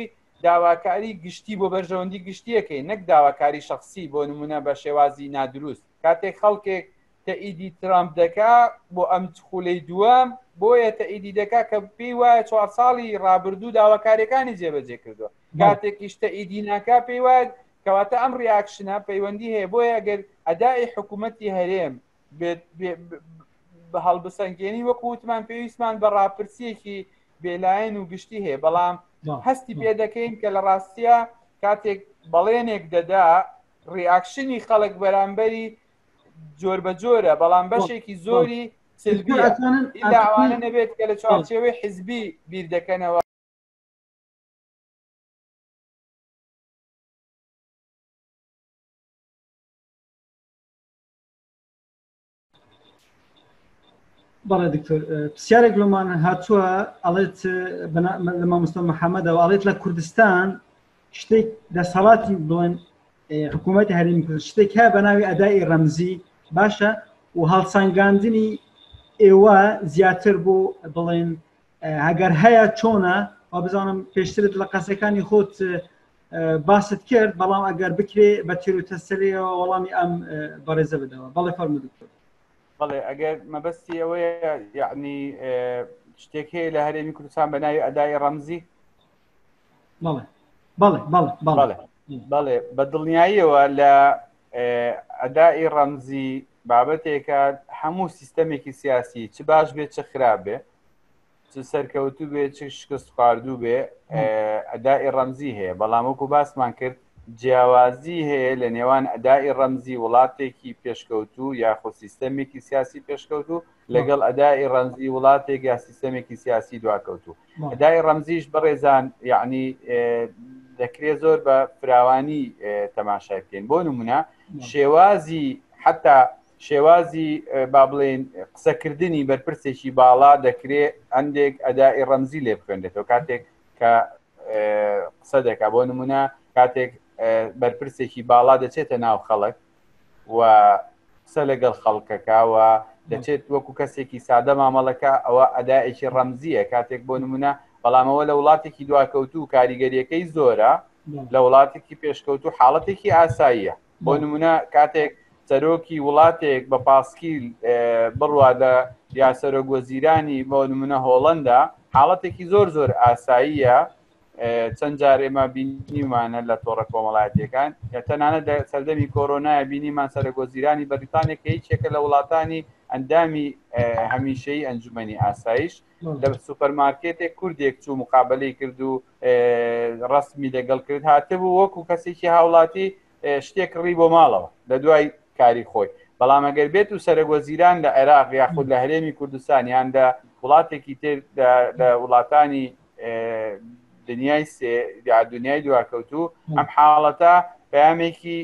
داواکاری گشتی بۆ بەرژەوەندی گشتیەکەی نەک داواکاری شخصی بۆ نمونە بە شێوازی نادروست کاتێک خەڵکێک تەئیدی ترامپ دەکا بۆ ئەم خولەی دووەم بۆیە تەئیدی دەکا کە پێی وایە چوار ساڵی ڕابردوو داواکاریەکانی جێبەجێ کردووە کاتێکیش تەئیدی ناکا پێی وایە کەواتە ئەم ڕیاکشنە پەیوەندی هەیە بۆیە گەر ئەدای حکوومەتی هەرێم بە هەڵبسەنگێنی وەکو وتمان پێویستمان بە ڕاپرسیەکی بێلایەن و گشتی هەیە بەڵام هەستی پێ دەکەین کە لە ڕاستە کاتێک بەڵێنێک دەدا ڕیاکشنی خەڵک بەرامبەری جۆر بە جۆرە بەڵام بەشێکی زۆری سلبیەوانە نەبێت کە لە چوارچێوەی حزبی بیر دەکەنەوە بەڵێ دکتۆر پرسیارێک لۆمان هاتووە ئەڵێت لە مامۆستا محەممەدەوە ئەڵێت لە کوردستان شتێک دەسەڵاتی بڵێن حکوومەتی هەرمی کرد شتێک هەیە بە ناوی ئەدای ڕەمزی باشە و هەڵسەنگاندنی ئێوە زیاتر بۆ بڵێن هەگەر هەیە چۆنە و بزانم پێشترت لە قەسەکانی خۆت باست کرد بەڵام ئەگەر بکرێ بە تیرۆتەسەرەوە وەڵامی ئەم بەڕێزە بدەوە بەڵێ فەرمو دکتۆر بەڵێ ئەگەر مەبەستی ئەوەیە یعنی شتێک هەیە لە هەرێمی کوردستان بە ناوی ئەدای ڕەمزی بەڵێ بەڵێ بەڵێ بەڵێ بەڵێ بە دڵنیاییەوە لە ئەدای ڕەمزی بابەتێکە هەموو سیستەمێکی سیاسی چ باش بێت چ خراپ بێ چ سەرکەوتوو بێ چ شکست خواردوو بێ ئەدای ڕەمزی هەیە بەڵام وەکو باسمان کرد جیاوازی هەیە لە نێوان ئەدای ڕەمزی وڵاتێکی پێشکەوتوو یاخۆ سیستەمێکی سیاسی پێشکەوتوو لەگەڵ ئەدای ڕەمزی وڵاتێک یا سیستەمێکی سیاسی دواکەوتوو ندای ڕەمزیش بەڕێزان یعنی دەکرێ زۆر بە فراوانی تەماشای بکەین بۆ نمونە شێوازی حتا شێوازی با بڵێن قسەکردنی بەرپرسێکی باڵا دەکرێت هەندێک ئەدای ڕەمزی لێ بخوێنێتەوە کاتێک کە قسە دەکا بۆ نمونە کاتێک بەرپرسێکی باڵا دەچێتە ناو خەڵک و قسە لەگەڵ خەڵکەکەوە دەچێت وەکو کەسێکی سادە مامەڵەکە ئەوە ئەدایەکی ڕەمزیە کاتێک بۆ نمونە بەڵامەوە لە وڵاتێکی دواکەوتو و کاریگەریەکەی زۆرە لە وڵاتێکی پێشکەوت و حاڵەتێکی ئاساییە بۆ نمونە کاتێک سەرۆکی وڵاتێک بە پاسکیل بڕوا لە یاسەرۆک وەزیرانی بۆ نمونە هۆڵندا حاڵەتێکی زۆر زۆر ئاساییە چەند جار ئێمە بینیمانە لە تۆڕە کۆمەڵایەتەکان کە تەنانە لە سەردەمی کۆرۆنای بینیمان سەرگۆزیرانی بەریتانیا کە هیچێکە لە وڵاتانی ئەندامی هەمیشەی ئەنجومی ئاسایش لە سوپەرمارکێتێک کوردێک چوو مقابلی کرد و ڕسمی لەگەڵ کرد هاتبوو وەکو کەسێکی هاوڵاتی شتێک ڕی بۆ ماڵەوە لە دوای کاری خۆی بەڵام ئەگەر بێت و سەرگۆزیران لە عێراق یاخود لە هەرێمی کوردستان یان لە وڵاتێکی تر لە وڵاتانی دنیای سێ دنیای دواکەوتوو ئەم حاڵەتە پامێکی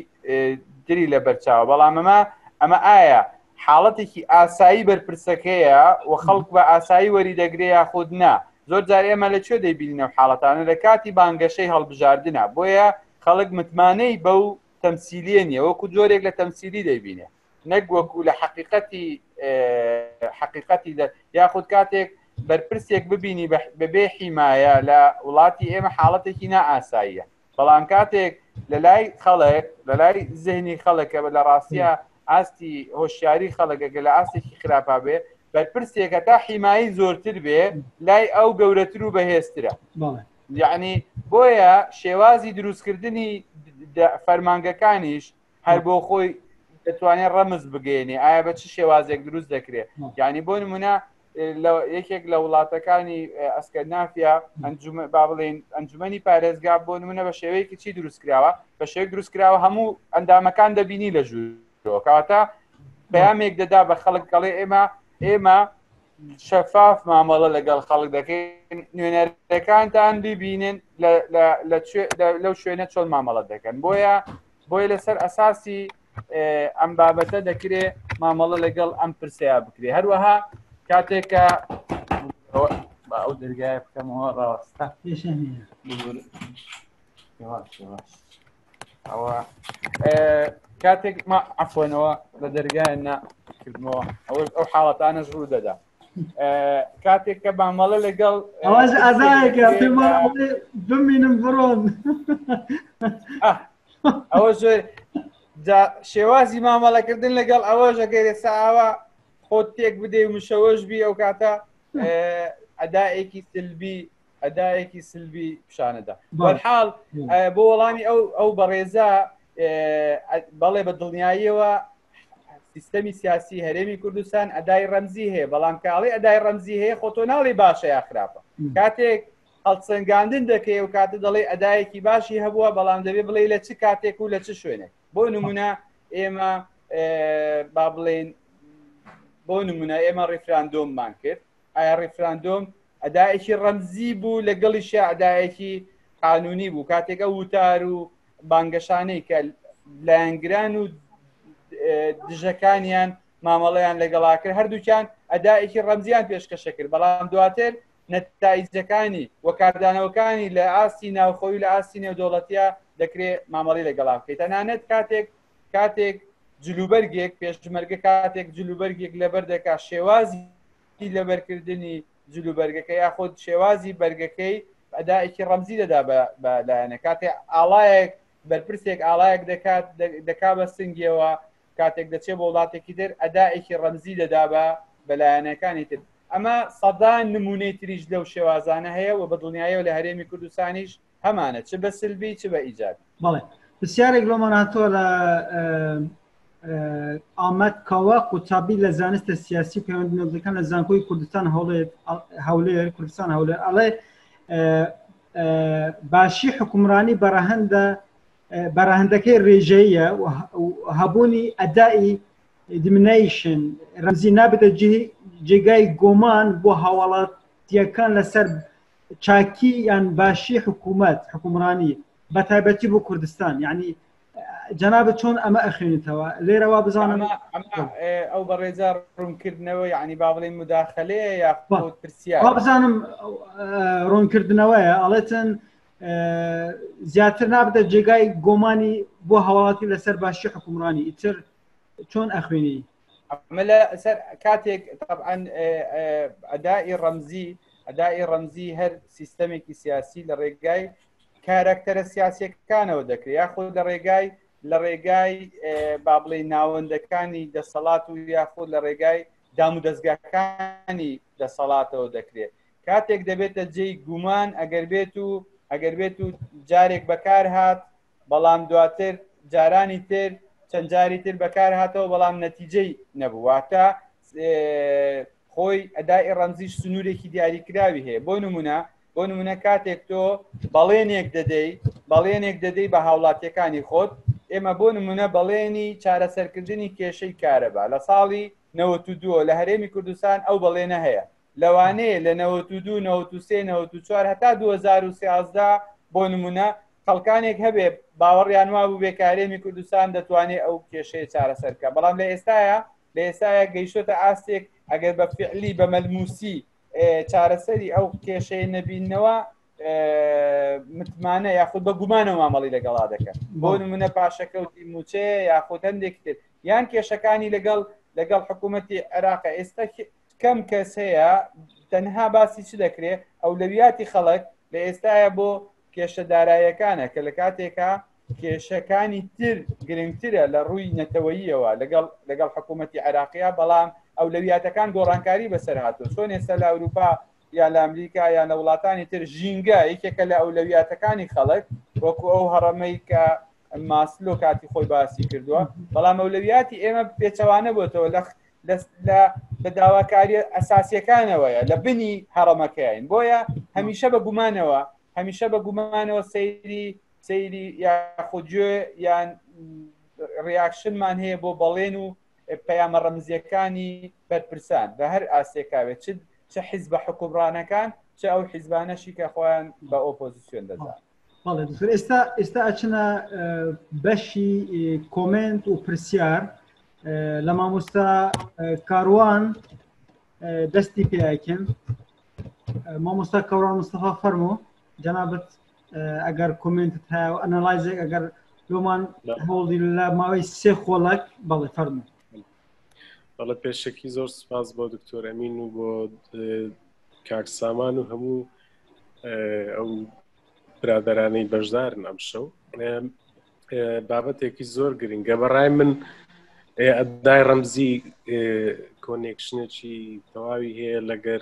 دری لە بەرچاوە بەڵام ئەمە ئەمە ئایا حاڵەتێکی ئاسایی بەرپرسەکەیە و خەڵک بە ئاسایی وەری دەگرێ یاخود نا زۆر جار ئێمە لە کوێ دەیبینە حاڵەتانە لە کاتی بانگەشەی هەڵبژاردنە بۆیە خەڵک متمانەی بەو تەمسیلیە نیە وەکو جۆرێک لە تەمسیلی دەیبینێ نەک وەکو لە حقیقەتی حقیقەتی دە یاخود کاتێک بەرپرسێک ببینی بەبێ حیمایە لە وڵاتی ئێمە حاڵەتێکی نائاساییە بەڵام کاتێک لە لای خەڵک لە لای زهنی خەڵکە بە لە ڕاستە ئاستی هۆشیاری خەڵکەکە لە ئاستێکی خراپا بێ بەرپرسێکە تا حیمایی زۆرتر بێ لای ئەو گەورەتر و بەهێزترە یعنی بۆیە شێوازی دروستکردنی فەرمانگەکانیش هەر بۆ خۆی دەتوانێت ڕەمز بگەێنێ ئایا بە چ شێوازێک دروست دەکرێت یعنی بۆ نمونە یەکێک لە وڵاتەکانی ئەسکەنافیا ئەنجوم با بڵێن ئەنجومی پارێزگا بۆ نمونە بە شێوەیەکی چی دروست کراوە بە شێوەیەک دروست کراوە هەموو ئەندامەکان دەبینی لە ژوور کەواتە پامێک دەدا بە خەڵک کەڵێ ئێمە ئێمە شەفاف مامەڵە لەگەڵ خەڵک دەکەین نوێنەرەکانتان ببینن لەو شوێنە چۆن مامەڵە دەکەن بۆیە بۆیە لەسەر ئەساسی ئەم بابەتە دەکرێ مامەڵە لەگەڵ ئەم پرسەیە بکرێ هەروەها کاتێکە ئەو دەرگای بکەمەوە ڕاستە ئەوە کاتێک ما عفۆنەوە لە دەرگایە ناکردمەوە ئەوەش ئەو حاڵەتانەش ڕوو دەدات کاتێک کە بامەڵە لەگەڵ ئەوەش ئازایەکە بمینم بڕۆن ئەوە زۆر شێوازی مامەڵەکردن لەگەڵ ئەوە ژەگەر ئێستا ئاوا خۆت تێک بدەی و مشەوەش بی ئەو کاتە ئەدایەکی سلبی ئەدایەکی سلبی پیشانەدا بەحاڵ بۆ وەڵامی ئەو ئەو بەڕێزە بەڵێ بە دڵنیاییەوە سیستەمی سیاسی هەرێمی کوردستان ئەدای ڕەمزی هەیە بەڵام کاڵی ئەدای ڕەمزی هەیە خۆ تۆ ناڵی باشە یا خراپە کاتێک هەڵسەنگاندن دەکەی و کاتە دەڵێ ئەدایەکی باشی هەبووە بەڵام دەبێ بڵێ لە چ کاتێک و لە چ شوێنێک بۆ نمونە ئێمە با بڵێن بۆ نمونە ئێمە ڕیفراندۆممان کرد ئایا ڕیفراندۆم ئەدایەکی ڕەمزی بوو لەگەڵی شعدایەکی قانونی بوو کاتێکە وتار و بانگەشانەی کە لایەنگران و دژەکانیان مامەڵەیان لەگەڵاکرد هەردووکیان ئەدایەکی ڕەمزیان پێشکەشە کرد بەڵام دواتر نەتایجەکانی و کاردانەوەکانی لە ئاستی ناوخۆی لە ئاستی نێودوڵەتە دەکرێت مامەڵی لەگەڵا بکەیت تەنانەت کاتێک کاتێک جلوبەرگێک پێشمەرگە کاتێک جلوبەرگێک لەبەر دەکا شێوازی لەبەرکردنی جلوبەرگەکە یاخود شێوازی بەرگەکەی ئەدایکی ڕەمزی دەدا بە لایەنە کاتێ ئاڵایەک بەرپرسێک ئاڵایەک دەکات دەکا بە سنگیەوە کاتێک دەچێت بۆ وڵاتێکی تر ئەدایکی ڕەمزی دەدا بە بەلایەنەکانی تر ئەمە سەدان نمونەی تریش لەو شێوازانە هەیە و بە دڵنیایەوە لە هەرێمی کوردستانیش هەمانە چ بە سلبی چ بە ئیجابی بەڵێ پرسیارێک لۆمان هاتووە لە ئامەد کاوە قوتابی لە زانستە سیاسی و پەیوەندی نەوتەکان لە زانکۆی کوردستان هەوڵێت هەولێر کوردستان هەولێر ئەڵێ باشی حکومرانی بەڕەهندە بەڕەهندەکەی رێژەیە هەبوونی ئەدای دیمنیشن رەمزی نابێتە جێگای گۆمان بۆ هاوڵاتیەکان لەسەر چاکی یان باشی حکوومەت حکومڕانی بە تایبەتی بۆ کوردستان یعنی جەنابە چۆن ئەمە ئەخێنیتەوە لێرەوە بزانم ئەو بەڕێزار ڕوونکردنەوە یعنی با بڵێن مداخلەیە یا پرسیا بزانم ڕوونکردنەوەیە ئەڵێتن زیاتر نابدە جێگای گۆمانی بۆ هەواڵاتی لەسەر باشی حکومڕانی ئیتر چۆن ئەخوێنی ئەمە لە سەر کاتێک طبعاان ئەدای ڕەمزی ئەدای ڕەمزی هەر سیستەمێکی سیاسی لە ڕێگای کارکتەرە سیاسەکانەوە دەکرێت یاخود لە ڕێگای لە ڕێگای بابلەی ناوەندەکانی دەسەڵات و یاخود لە ڕێگای دام و دەستگاکانی دەسەڵاتەوە دەکرێت کاتێک دەبێتە جێی گومان ئەگەر بێت و ئەگەر بێت و جارێک بەکار هات بەڵام دواتر جارانی تر چەند جاری تر بەکار هاتەوە بەڵام نەتیجەی نەبوو واتە خۆی ئەدای ڕەمزیش سنوورێکی دیاریکراوی هەیە بۆ نمونە بۆ نمونە کاتێک تۆ بەڵێنێک دەدەی بەڵێنێک دەدەی بە هاوڵاتیەکانی خۆت ئێمە بۆ نمونە بەڵێنی چارەسەرکردنی کێشەی کارەبا لە ساڵی 92 لە هەرێمی کوردستان ئەو بەڵێنە هەیە لەوانەیە لە نەوەت و دوو نەوەت و سێ نەوەت و چوار هەتا دوو هەزار و سیازدە بۆ نموونە خەڵکانێک هەبێ باوەڕیان وا بوو بێ کارێمی کوردستان دەتوانێت ئەو کێشەیە چارەسەر بکە بەڵام لە ئێستاە لە ئێستاە گەیشتۆتە ئاستێک ئەگەر بە فعلی بە مەلموسی چارەسەری ئەو کێشەیە نەبینەوە متمانە یاخود بە گومانەوە مامەڵی لەگەڵا دەکەن بۆ نمونە پاشەکەوتی موچەیە یاخود هەندێک تر یان کێشەکانی لەگەڵ لەگەڵ حکوومەتتی عێراق ئێستا کەم کەس هەیە تەنها باسی چ دەکرێت ئەولەویاتی خەڵک لە ئێستاە بۆ کێشە دارایەکانە کە لە کاتێکا کێشەکانی تر گرنگترە لە ڕووی نەتەوەییەوە لەگەڵ لەگەڵ حکوومەتتی عراقیە بەڵام ئەو لەویاتەکان گۆڕانکاری بەسەر هاتو چۆن ئێستا لە ئەوروپا یا لە ئەمریکا یان لە وڵاتانی تر ژینگە یەکێکە لە ئەولەویاتەکانی خەڵک وەکو ئەو هەڕەمەی کە ماسلۆ کاتی خۆی باسی کردووە بەڵام مەولەویاتی ئێمە پێچەوانە بۆتەوە لە لە بە داواکاری ئەساسیەکانەوەیە لە بنی هەڕەمەکەین بۆیە هەمیشە بە گومانەوە هەمیشە بە گومانەوە سەیری سەیری یاخۆگوێ یان ڕیاکشنمان هەیە بۆ بەڵێن و پەیامە ڕەمزیەکانی بەرپرسان بە هەر ئاسێکاوێت چ چه حیزبە حکومڕانەکان چ ئەو حیزبانەشی کە خۆیان بە ئۆپۆزیسیۆن دەزان بەڵێ دکتۆر ئێستا ئێستا ئەچنە بەشی کۆمنت و پرسیار لە مامۆستا کاروان دەستی پێکن مامۆستا کەوران مستەفا فەرمۆ جەنابەت ئەگەر کۆمنتت هەیە و ئەنەلایزێک ئەگەر لۆمان هەوڵی لە ماوەی سێ خۆڵک بەڵێ فەرمو بەڵە پێشەکی زۆر سپاس بۆ دکتۆر ئەمین و بۆ کاک سامان و هەموو ئەو برادرانەی بەشدارن ئەم شەو بابەتێکی زۆر گرنگە بەڕای من ئەدای ڕەمزی کۆنێکشنێکی تەواوی هەیە لەگەر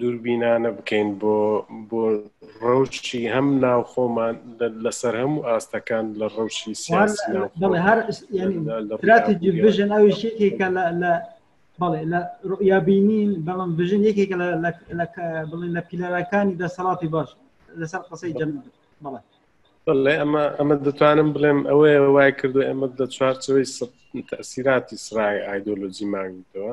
دووربینانە بکەین بۆ بۆ ڕەوشی هەم ناو خۆمان لەسەر هەموو ئاستەکان لە ڕەوشی سیاسی هەراتێکی بژن ئەو شتێکە لە بەڵێ لە ڕوئیا بینین بەڵام بژن یەکێکە بڵێن لە پیلەرەکانی دەسەڵاتی باش لەسەر قسەی جەم بەڵێ بڵێ ئەمە ئەمە دەتوانم بڵێم ئەوەیە وای کردو ئەمە دە چوارچەوەی تەسیراتی سرای ئایدۆلۆجی ماویتەوە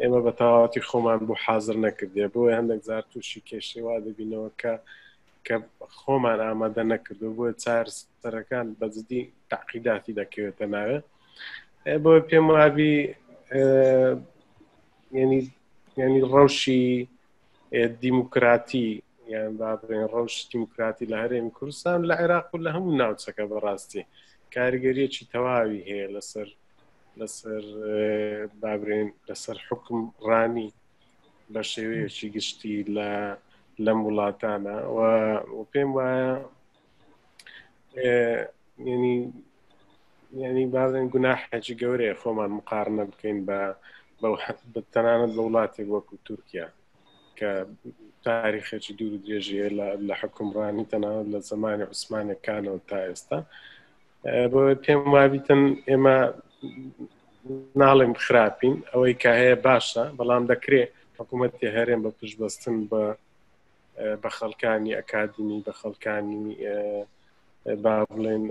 ئێمە بە تەواوەتی خۆمان بۆ حاضر نەکردێ بۆ هەندێک زار تووشی کێشەی وا دەبینەوە کە کە خۆمان ئامادە نەکردو بۆ چارسەرەکان بەجددی تاقیداتی دەکەوێتە ناوێ بۆ پێم وابی ینی ینی ڕەوشی دیموکراتی یان با بڵێن ڕەوش دیموکراتی لە هەرێمی کوردستان لە عێراق و لە هەموو ناوچەکە بەڕاستی کاریگەریەکی تەواوی هەیە لەسەر لەسەر بابرێن لەسەر حکم ڕانی بە شێوەیەکی گشتی لە لەم وڵاتانە و پێم وایە ینی ینی بازن گوناحێکی گەورەیە خۆمان مقارنە بکەین بە تەنانەت بە وڵاتێک وەکو تورکیا کە تاریخێکی دوور درێژیە لە حکومڕانی تەنانەت لە زمانی عوسمانەکانەوە تا ئێستا بۆ پێم وابیتن ئێمە ناڵێم خراپین ئەوەی کە هەیە باشە بەڵام دەکرێت حکوومەتی هەرێم بە پشتبەستن بە بە خەڵکانی ئەکادمی بە خەڵکانی با بڵێن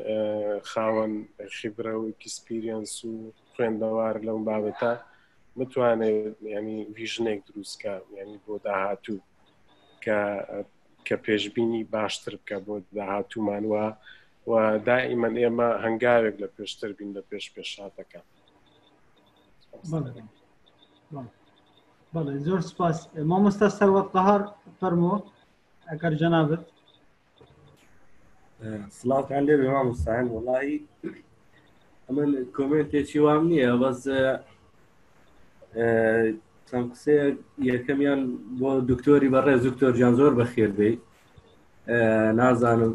خاوەن خیبرە و ئەکسپیرینس و خوێندەوار لەم بابەتە متوانێت ینی ویژنێک دروستکە ینی بۆ داهاتوو کە کە پێشببینی باشتر بکە بۆ داهاتوومان وە و دائیمەن ئێمە هەنگاوێک لە پێشتر بین لە پێش پێشاتەکە بەڵێ زۆر سپاس مامۆستا سەروەت قەهار فەرمۆ ئەگەر جەنابەت سلااوان لێ بێ مامۆستایان وڵی ئەمن کۆمنتێکی وام نییە بەس چەند قسێ یەکەمیان بۆ دکتۆری بەڕێ زکتۆر جان زۆر بەخێر بێ نازانم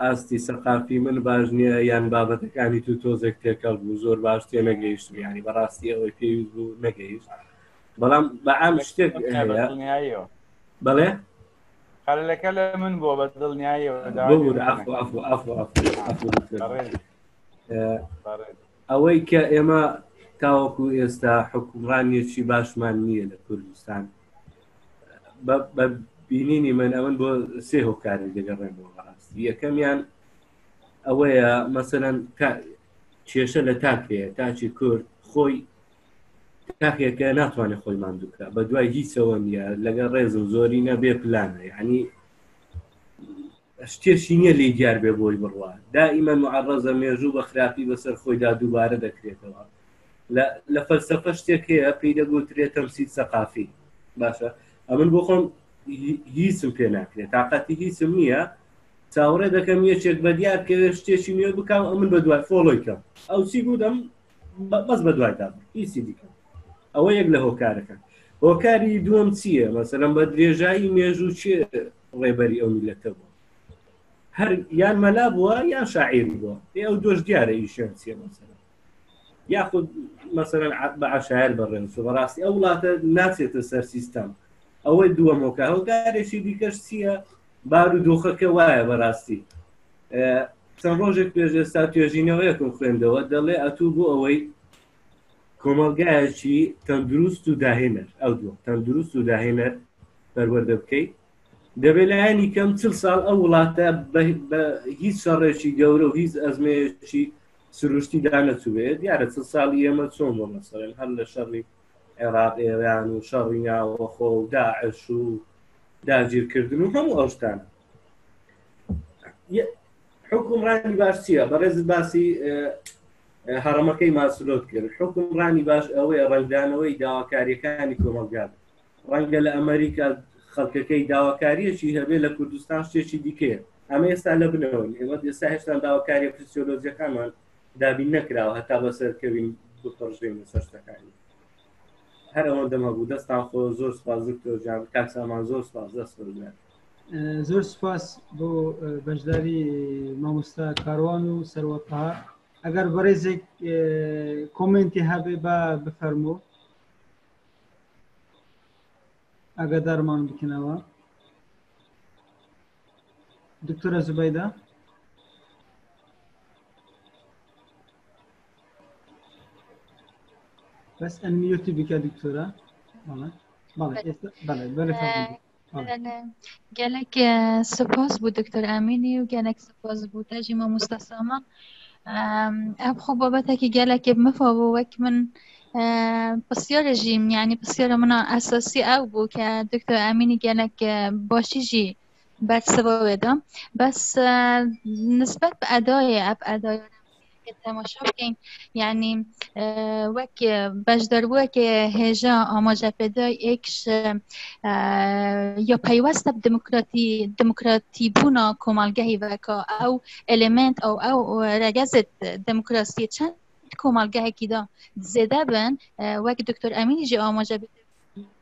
ئاستی سەقافی من باش نییە یان بابەتەکانی تو تۆزێک تێکەڵ بوو زۆر باش تێ نەگەیشت ینی بەڕاستی ئەوەی پێویست بوو نەگەیشت بەڵام بە ئام شتێک بەڵێ خەلەکە لە من بۆ بە دڵنیایەوە ئەوەی کە ئێمە تاوەکو ئێستا حکومڕانیەکی باشمان نییە لە کوردستان بە بینینی من ئەمن بۆ سێ هۆکاری دەگەڕێن بۆ بەڕاستی یەکەمیان ئەوەیە مەسەەن کێشە لە تاک هەیە تاچی کورد خۆی تاخێکە ناتوانێت خۆی ماندووکە بە دوای هیچەوە نیە لەگە ڕێزم زۆری نەبێ پلانە ینی ستێسی نیە لێی دیار بێ بۆی بڕوا دائیمەن معەڕەزە مێژوو بە خراپی بەسەر خۆیدا دووبارە دەکرێتەوە لە لە فەلسەفە شتێک هەیە پێی دەگوترێت تەمسیل سەقافی باشە ئەمن بۆ خۆم هیچم پێ ناکرێت تااقەتی هیچم نییە چاوەڕێ دەکەم یەکێک بە دیار بکەوێت شتێکی نوێ بکەم ئەمن بە دوای فۆڵۆی کەم ئەو چی بوودەم بەس بە دوای دابم هیچی دیکەم ئەوە یەک لە هۆکارەکان هۆکاری دووەم چییە مەسەلم بە درێژایی مێژوو چێ ڕێبەری ئەو میلەتە بووە هەر یان مەلا بووە یان شاعیر بووە پێ ئەو دۆش دیارە ئیشیان چیە مەسەرە یاخود مەسەرەن بە عشاعر بەڕێن سو بەڕاستی ئەو وڵاتە ناچێتە سەر سیستەم ئەوەی دووە مۆکە هەوکارێکی دیکەش چییە بار و دۆخەکە وایە بەڕاستی چەند ڕۆژێک پێش ئێستا توێژینەوەیەکم خوێندەوە دەڵێ ئەتوو بۆ ئەوەی کۆمەڵگایەکی تەندروست و داهێنەر ئەو دووە تەندروست و داهێنەر پەروەردە بکەیت دەبێت لایەنی کەم چل ساڵ ئەو وڵاتە بە هیچ شەڕێکی گەورە و هیچ ئەزمەیەکی سروشتی دانەچوێت دیارە چل ساڵی ئێمە چۆن بۆ مەسەرێن هەر لە شەڕی عێراق ئێران و شەڕی ناوەخۆ و داعش و داگیرکردن و هەموو ئەوشتان حکومڕانی باش چییە بەڕێز باسی هەڕەمەکەی ماسلۆت کرد حکم ڕانی باش ئەوەیە ڕنگدانەوەی داواکاریەکانی کۆمەلگات ڕەنگە لە ئەمریکا خەڵکەکەی داواکاریەکی هەبێ لە کوردستان شتێکی دیکێ ئەمە ئێستا لە بنەوەن ئێمە ئێستا هێشتا داواکاریە فسیۆلۆجیەکانمان دابین نەکراوە هەتا بەسەرکەوین بپڕژین لەسەر شتەکانی هەر ئەوەندەم هەبوو دەستان خۆ زۆر سپاس دکتۆر جان کاک سامان زۆر سپاس دەست بگرن زۆر سپاس بۆ بەشداری مامۆستا کاروان و سەروەتها ئەگەر بەڕێزێک کۆمنتی هەبێ بە بفەرموو ئەگەدارمان بکنەوە دکتۆرە زوبەیدا بەس ئەنمیوتی بکە دکتۆرە بەڵێ بەڵێ بەڵێ گەلێک سپۆس بوو دکتۆر ئامینی و گەلێک سپۆس بوو تاژی مامۆستا سامان ئەب خۆ بابەتێکی گەلێکی بمەفە بوو وەک من پسیۆرە ژیم یعنی پسیۆرە منە ئەساسی ئەو بوو کە دکتۆر ئامینی گەلێک باشی ژی بەرسەوە وێدەم بەس نسبەت بە ئەدای ئەپ ئەدای تەماشا بکەین یعنی وەک بەش دەروەک هێژە ئاماژە پێدا ئێکش یا پەیوەستە دموکراتی دموکراتی بوونا کۆمەڵگەهی وەکە ئەو ئەلمنت ئەو ئەو ڕەگەزت دموکراسی چەند کۆمەڵگەهێکیدا زێدە بن وەک دکتۆر ئەمینیژی ئاماژە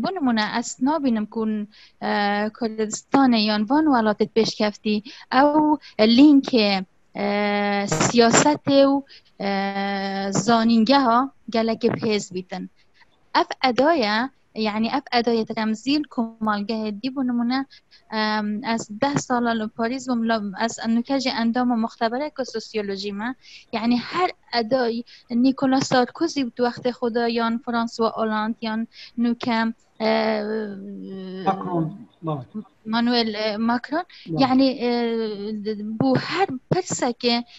بۆ نمونە ئەس نابینم کون کوردستانە یان بان وڵاتت پێشکەفتی ئەو لینکێ سیاسەتێ و زانینگە ها گەلەکە پێز بیتن ئەف ئەدایە یعنی ئەف ئەدایە تەمزیل کۆمەڵگەهێ دی بۆ نمونە از ده سال لە پاریس بووم لە از نوکەجی ئەندامە مختبرە کە سوسیۆلۆژیمە یعنی هەر ئەدای نیکۆلا سارکۆزی و وەختی خۆدا یان فرانسوا ئۆلاند یان نوکە مانوێل ماکرۆن یعنی بۆ هەر پرسەکێ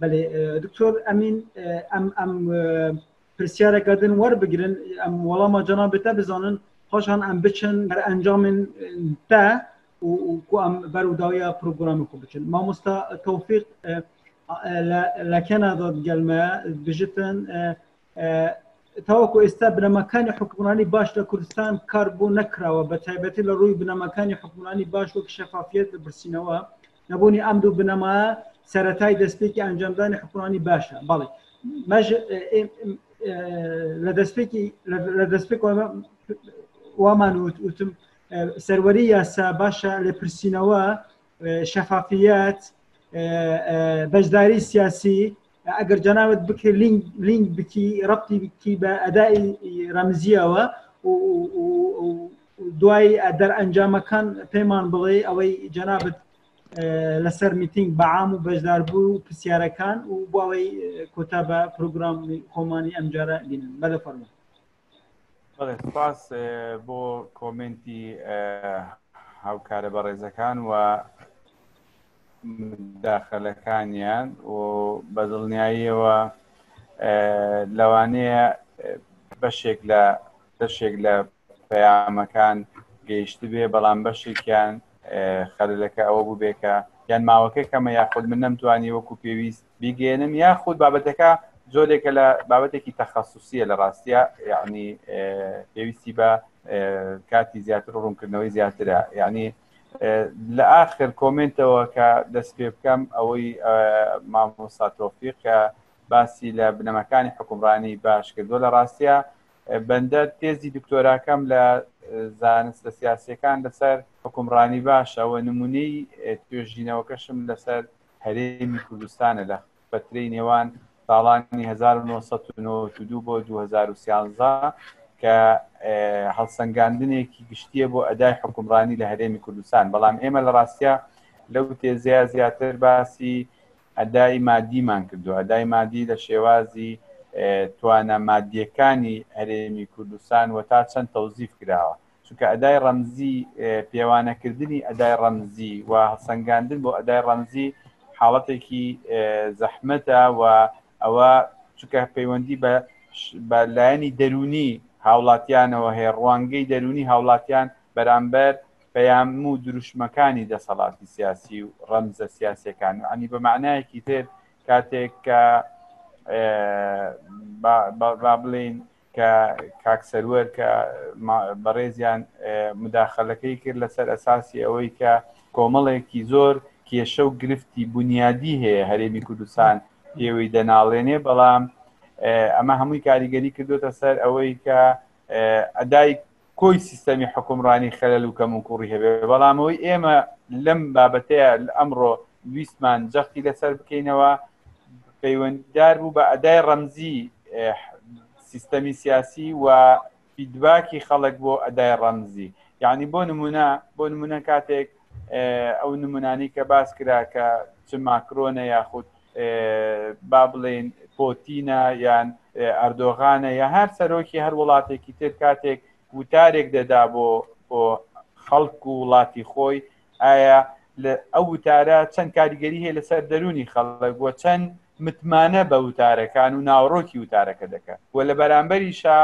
بەێ دکتۆر ئەمین ئەم ئەم پرسیارەکەدن وەربگرن ئەم وەڵامە جەنا بێتە بزانن خۆشان ئەم بچن بەر ئەنجامن تا وکو ئەم بەروداویە پرۆگرامی خۆ بچن مامۆستا تۆفیق لە کەنادا گەلمە بژتن تاوەکو ئێستا بنەماکانی حکومڕانی باش لە کوردستان کار بۆ نەکراوە بە تایبەتی لە ڕووی بنەماکانی حکومڕانی باش وەک شەفافیت لە برسینەوە نەبوونی ئەم دوو بنەما سەتای دەستپێکی ئەنجامدانی حکومڕانی باشە بەڵێ لە دەستپێکی لە دەستپێک وامان وتم سەروەری یاسا باشە لە پرسینەوە شەفافیت بەشداری سیاسی ئەگەر جەناوت بکە لینک بکی ڕەتی بکی بە ئەدای ڕەمزیەوە دوای دەر ئەنجامەکان پەیمان بڵێ ئەوەی جەنابەت لەسەر میتنگ بەعام و بەشدار بوو و پرسیارەکان و بۆەوەی کۆتا بە پرۆگرام خۆمانی ئەمجارە بینن بەدە فەرمە سپاس بۆ کۆمنتی هاوکارە بەڕێزەکان و داخلەکانیان و بە دڵنیاییەوە لەوانەیە بەشێک لە بەشێک لە پەیامەکان گەیشت بێ بەڵام بەشێکیان خەلەکە ئەوە بوو بێکە یان ماوەکە کەمە یاخود من نەمتوانی وەکو پێویست بیگەێنن یاخود بابەتەکە زۆرێکە لە بابەتێکی تەخصصیە لە ڕاستە یعنی پێویستی بە کاتی زیاتر و ڕوونکردنەوەی زیاترە یعنی لە ئاخر کۆمنتەوە کە دەست پێ بکەم ئەوەی مامۆساتۆفیق کە باسی لە بنەمەکانی حکومڕانی باش کردووە لە ڕاستە بەندەر تێزی دکتۆراکەم لە زانستە سیاسەکان لەسەر حکومڕانی باشە و نمونەی توێژینەوەکەشم لەسەر هەرێمی کوردستانە لە فترەی نێوان ساڵانی 1992 بۆ 2013 کە هەڵسەنگاندنێکی گشتیە بۆ ئەدای حکومڕانی لە هەرێمی کوردستان بەڵام ئێمە لە ڕاستە لەو تێزەیە زیاتر باسی ئەدای مادیمان کردو ئەدای مادی لە شێوازی توانە مادیەکانی هەرێمی کوردستان و تا چەند تەوزیف کراوە چونکە ئەدای ڕەمزی پێوانەکردنی ئەدای ڕەمزی و هەڵسەنگاندن بۆ ئەدای ڕەمزی حاڵەتێکی زەحمەتە و ئەوە چونکە پەیوەندی بە بە لایەنی دەرونی هاوڵاتیانەوە هەیە ڕوانگەی دەرونی هاوڵاتیان بەرامبەر پەیام و دروشمەکانی دەسەڵاتی سیاسی و ڕەمزە سیاسەکان و ئەنی بە معنایەکی تر کاتێک کە با بڵین کە کاک سەروەر کە بەڕێزیان مداخلەکەی کرد لەسەر ئەساسی ئەوەی کە کۆمەڵێکی زۆر کێشە و گرفتی بنیادی هەیە هەرێمی کوردستان پێوەی دەناڵێنێ بەڵام ئەمە هەمووی کاریگەری کردوێتە سەر ئەوەی کە ئەدای کۆی سیستەمی حکومڕانی خەلەل و کەموکوڕی هەبێ بەڵام ئەوەی ئێمە لەم بابەتەیە ئەمڕۆ ویستمان جەختی لەسەر بکەینەوە پەیوەندیدار بوو بە ئەدای ڕەمزی سیستەمی سیاسی و فیدباکی خەڵک بۆ ئەدای ڕەمزی یعنی بۆ نمونە بۆ نمونە کاتێک ئەو نمونانی کە باس کرا کە چ ماکرۆنە یاخود با بڵێین پۆتینە یان ئەردۆغانە یا هەر سەرۆکی هەر وڵاتێکی تر کاتێک وتارێک دەدا بۆ بۆ خەڵک و وڵاتی خۆی ئایا ئەو وتارە چەند کاریگەری هەیە لەسەر دەرونی خەڵک وە چەند متمانە بە وتارەکان و ناوڕۆکی وتارەکە دەکەن و لە بەرامبەریشا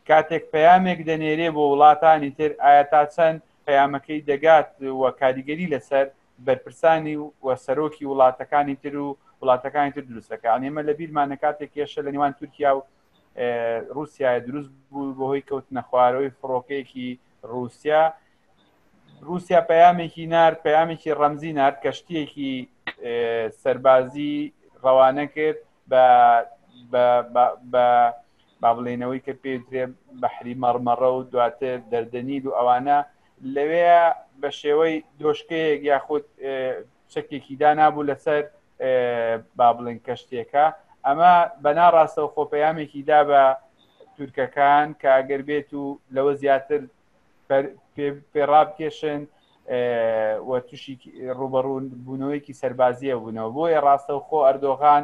کاتێک پەیامێک دەنێرێ بۆ وڵاتانی تر ئایا تا چەند پەیامەکەی دەگات و کاریگەری لەسەر بەرپرسانی و سەرۆکی وڵاتەکانی تر و وڵاتەکانی تر دروست دەکات یعنی ئێمە لەبیرمانە کاتێک کێشە لە نێوان تورکیا و رووسایە دروست بوو بەهۆی کەوتنە خوارەوەی فڕۆکەیەکی رووسیا رووسیا پەیامێکی نار پەیامێکی ڕەمزی نار کەشتیەکی سەربازی ڕەوانە کرد بە بە با بڵێنەوەی کە پێدرێ بەحری مەڕمەڕە و دواتر دەردەنیل و ئەوانە لەوێیا بە شێوەی دۆشکەیەک یاخود چەکێکی دانابوو لەسەر با بڵێن کەشتێکە ئەمە بەنا ڕاستەوە خۆپەیامێکی دا بە تورکەکان کە ئەگەر بێت و لەوە زیاتر پێڕابکێشن و تووشی ڕوبەڕوون بوونەوەیکی سەربازیە بوونەوە بۆیە ڕاستەوخۆ ئەردۆغان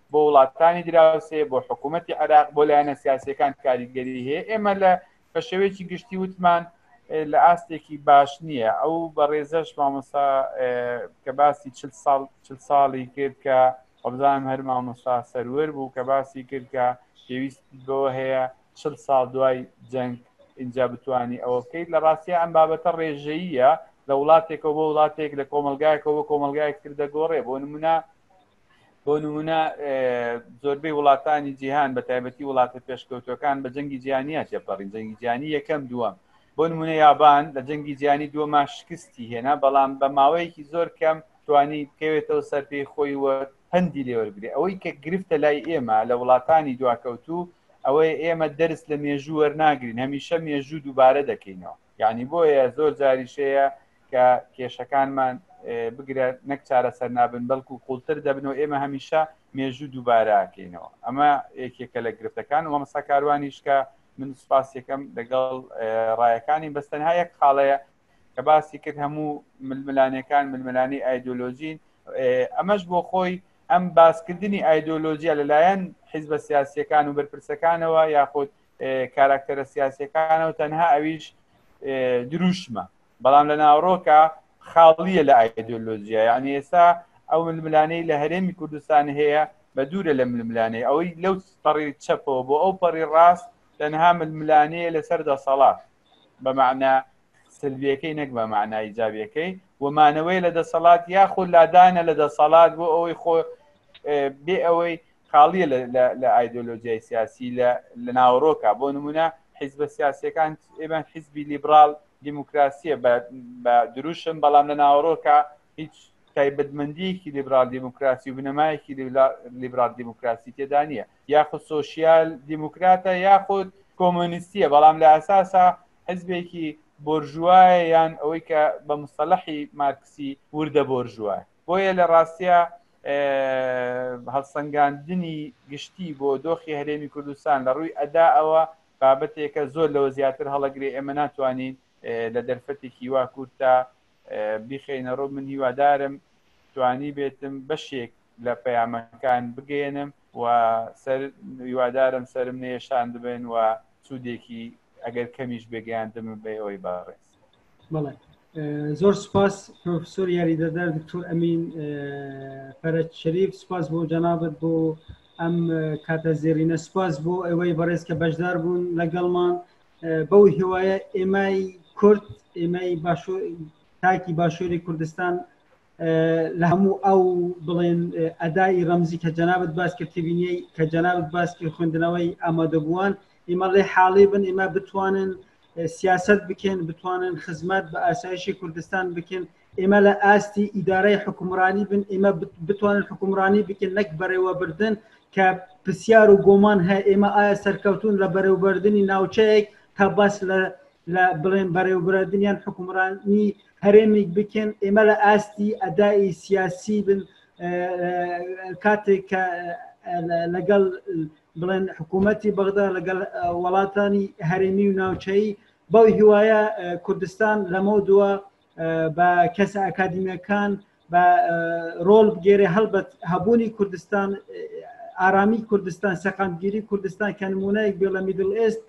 بۆ وڵاتانی دراوسێ بۆ حکوومەتتی عێراق بۆ لایەنە سیاسەکان کاریگەری هەیە ئێمە لە بە شێوەیەکی گشتی وتمان لە ئاستێکی باش نییە ئەو بەڕێزەش مامۆسا کە باسی چ ساڵ چ ساڵی کرد کە ئەبزانام هەر مامۆستا سەروەر بوو کە باسی کرد کە پێویست بەوە هەیە چ ساڵ دوای جەنگ اینجا بتانی ئەوە بکەیت لە ڕاستە ئەم بابەتە ڕێژەیە لە وڵاتێکەوە بۆ وڵاتێک لە کۆمەلگایەکەوە بۆ کۆمەلگایەکتر دەگۆڕێ بۆ نمونە بۆ نمونە زۆربەی وڵاتانی جیهان بە تایبەتی وڵاتە پێشکەوتەکان بە جەنگی جیانە تێپەڕین جەنگی جیانی یەکەم دووەم بۆ نمونە یابان لە جەنگی جیانی دووەما شکستی هێنا بەڵام بە ماوەیەکی زۆر کەم توانی بکەوێتەوە سەر پێی خۆی وە پەندی لێوەرگری ئەوەی کە گرفتە لای ئێمە لە وڵاتانی دواکەوتوو ئەوەی ئێمە دەرس لە مێژوو وەرناگرین هەمیشە مێژوو دووبارە دەکەینەوە یعنی بۆیە زۆر جاریشەیە کە کێشەکانمان بگرە نەک چارەسەر نابن بەڵکو قوڵتر دەبن و ئێمە هەمیشە مێژوو دووباراکەینەوە ئەمە یەکێکە لە گرفتەکان و مەمەسا کاروانیشکە من سپاس یەکەم لەگەڵ ڕایەکانی بەستەنها یەک خاڵەیە کە باسی کرد هەموو ململانەکان ململانی ئایدۆلۆژین ئەمەش بۆ خۆی ئەم باسکردنی ئایدۆلۆژیا لەلایەن حیزبە سیاسیەکان و بەرپرسەکانەوە یاخود کاراکتەرە سیاسەکانەوە تەنها ئەویش دروشمە بەڵام لە ناوڕۆکە خاڵیە لە ئایدۆلۆژیە یعنی ئێستا ئەو ململانەی لە هەرێمی کوردستان هەیە بە دوورە لە ململانەی ئەوەی لەو پەڕی چەپەوە بۆ ئەو پەڕی ڕاست تەنها ململانەیە لەسەر دەسەڵات بەمانە سلبیەکەی نەک بە معنای جاویەکەی ومانەوەی لە دەسەڵات یاخود لادانە لە دەسەڵات بۆ ئەوەی خۆ بێ ئەوەی خاڵیە لە ئایدۆلۆژیای سیاسی لە ناوەڕۆکە بۆ نمونە حیزبە سیاسەکان ئێمە حیزبی لیبرال دیموکراسیە بە دروشم بەڵام لە ناوەڕۆکە هیچ تایبەتمەندیەکی لیبرال دیموکراسی و بنەمایەکی لیبرال دیموکراسی تێدا نیە یاخود سوسیال دیموکراتە یاخود کۆمۆنیستیە بەڵام لە ئەساسا حزبێکی بۆرژوایە یان ئەوەی کە بە مسلحی مارکسی وردە بۆرژوایە بۆیە لە ڕاستیا هەڵسەنگاندنی گشتی بۆ دۆخی هەرێمی کوردستان لە ڕووی ئەدا ئەوە بابەتێکە زۆر لەوە زیاتر هەڵەگرێ ئێمە ناتوانین لە دەرفەتێکی وا کورتا بیخینە ڕوو من هیوادارم توانی بێتم بەشێک لە پەیامەکان بگەێنم و سەر هیوادارم سرم نێشان ببن و سوودێکی ئەگەر کەمیش بێگەیاندم بێ ئەوەی باڕێز بەڵێ زۆر سپاس پرۆفسۆر یاریدەدار دکتۆر ئەمین پەرەت شەریف سپاس بۆ جەنابەت بۆ ئەم کاتە زێرینە سپاس بۆ ئەوەی بەڕێز کە بەشدار بوون لەگەڵمان بەو هیوایە ئێمای کورد ئێمەی باشۆ تاکی باشووری کوردستان لە هەموو ئەو بڵێن ئەدای ڕەمزی کە جەنابەت باس کرد تبینیەی کە جەنابەت باس کرد خوێندنەوەی ئامادەبووان ئیمە ڵێ حاڵی بن ئیمە بتوانن سیاست بکەن بتوانن خزمەت بە ئاسایشی کوردستان بکەن ئێمە لە ئاستی ئیدارەی حکومڕانی بن ئێمە بتوانن حکومڕانی بکەن نەک بەڕێوەبردن کە پرسیار و گۆمان هەیە ئێمە ئایا سەرکەوتون لە بەرەوبردننی ناوچەیەک تا باس لە لە بڵێن بەرەوبردنیان حکومڕانی هەرێمێک بکەن ئێمە لە ئاستی ئەدای سیاسی بن کاتێک کە لەگەڵ بڵێن حکوومەتی بەغدا لەگەڵ وڵاتانی هەرێمی و ناوچەی بەو هیوایە کوردستان لەمە دووە بە کەسە ئەکادیمیەکان بە ڕۆل بگێرێ هەڵبەت هەبوونی کوردستان ئارامی کوردستان سەقامگیری کوردستان کە نمونایەک بێ لە میدل ئێست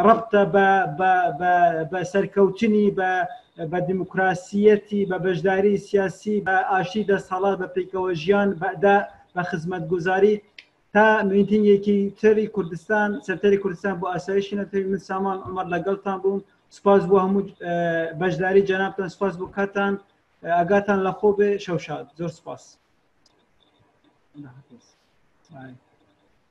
ڕبتە بە سەرکەوتنی بە بە دیموکراسیەتی بە بەشداری سیاسی بە ئاشی دەستهڵات بە پیکەوە ژیان بەدا بە خزمەت گوزاری تا میتنگێکی تری کوردستان سەرتەری کوردستان بۆ ئاسایشی نەتەوی من سامان ئەمەر لەگەڵتان بووم سپاس بۆ هەموو بەشداری جەنابتان سپاس بۆ کاتان ئاگاتان لە خۆ بێ شەوشاد زۆر سپاس Thank you.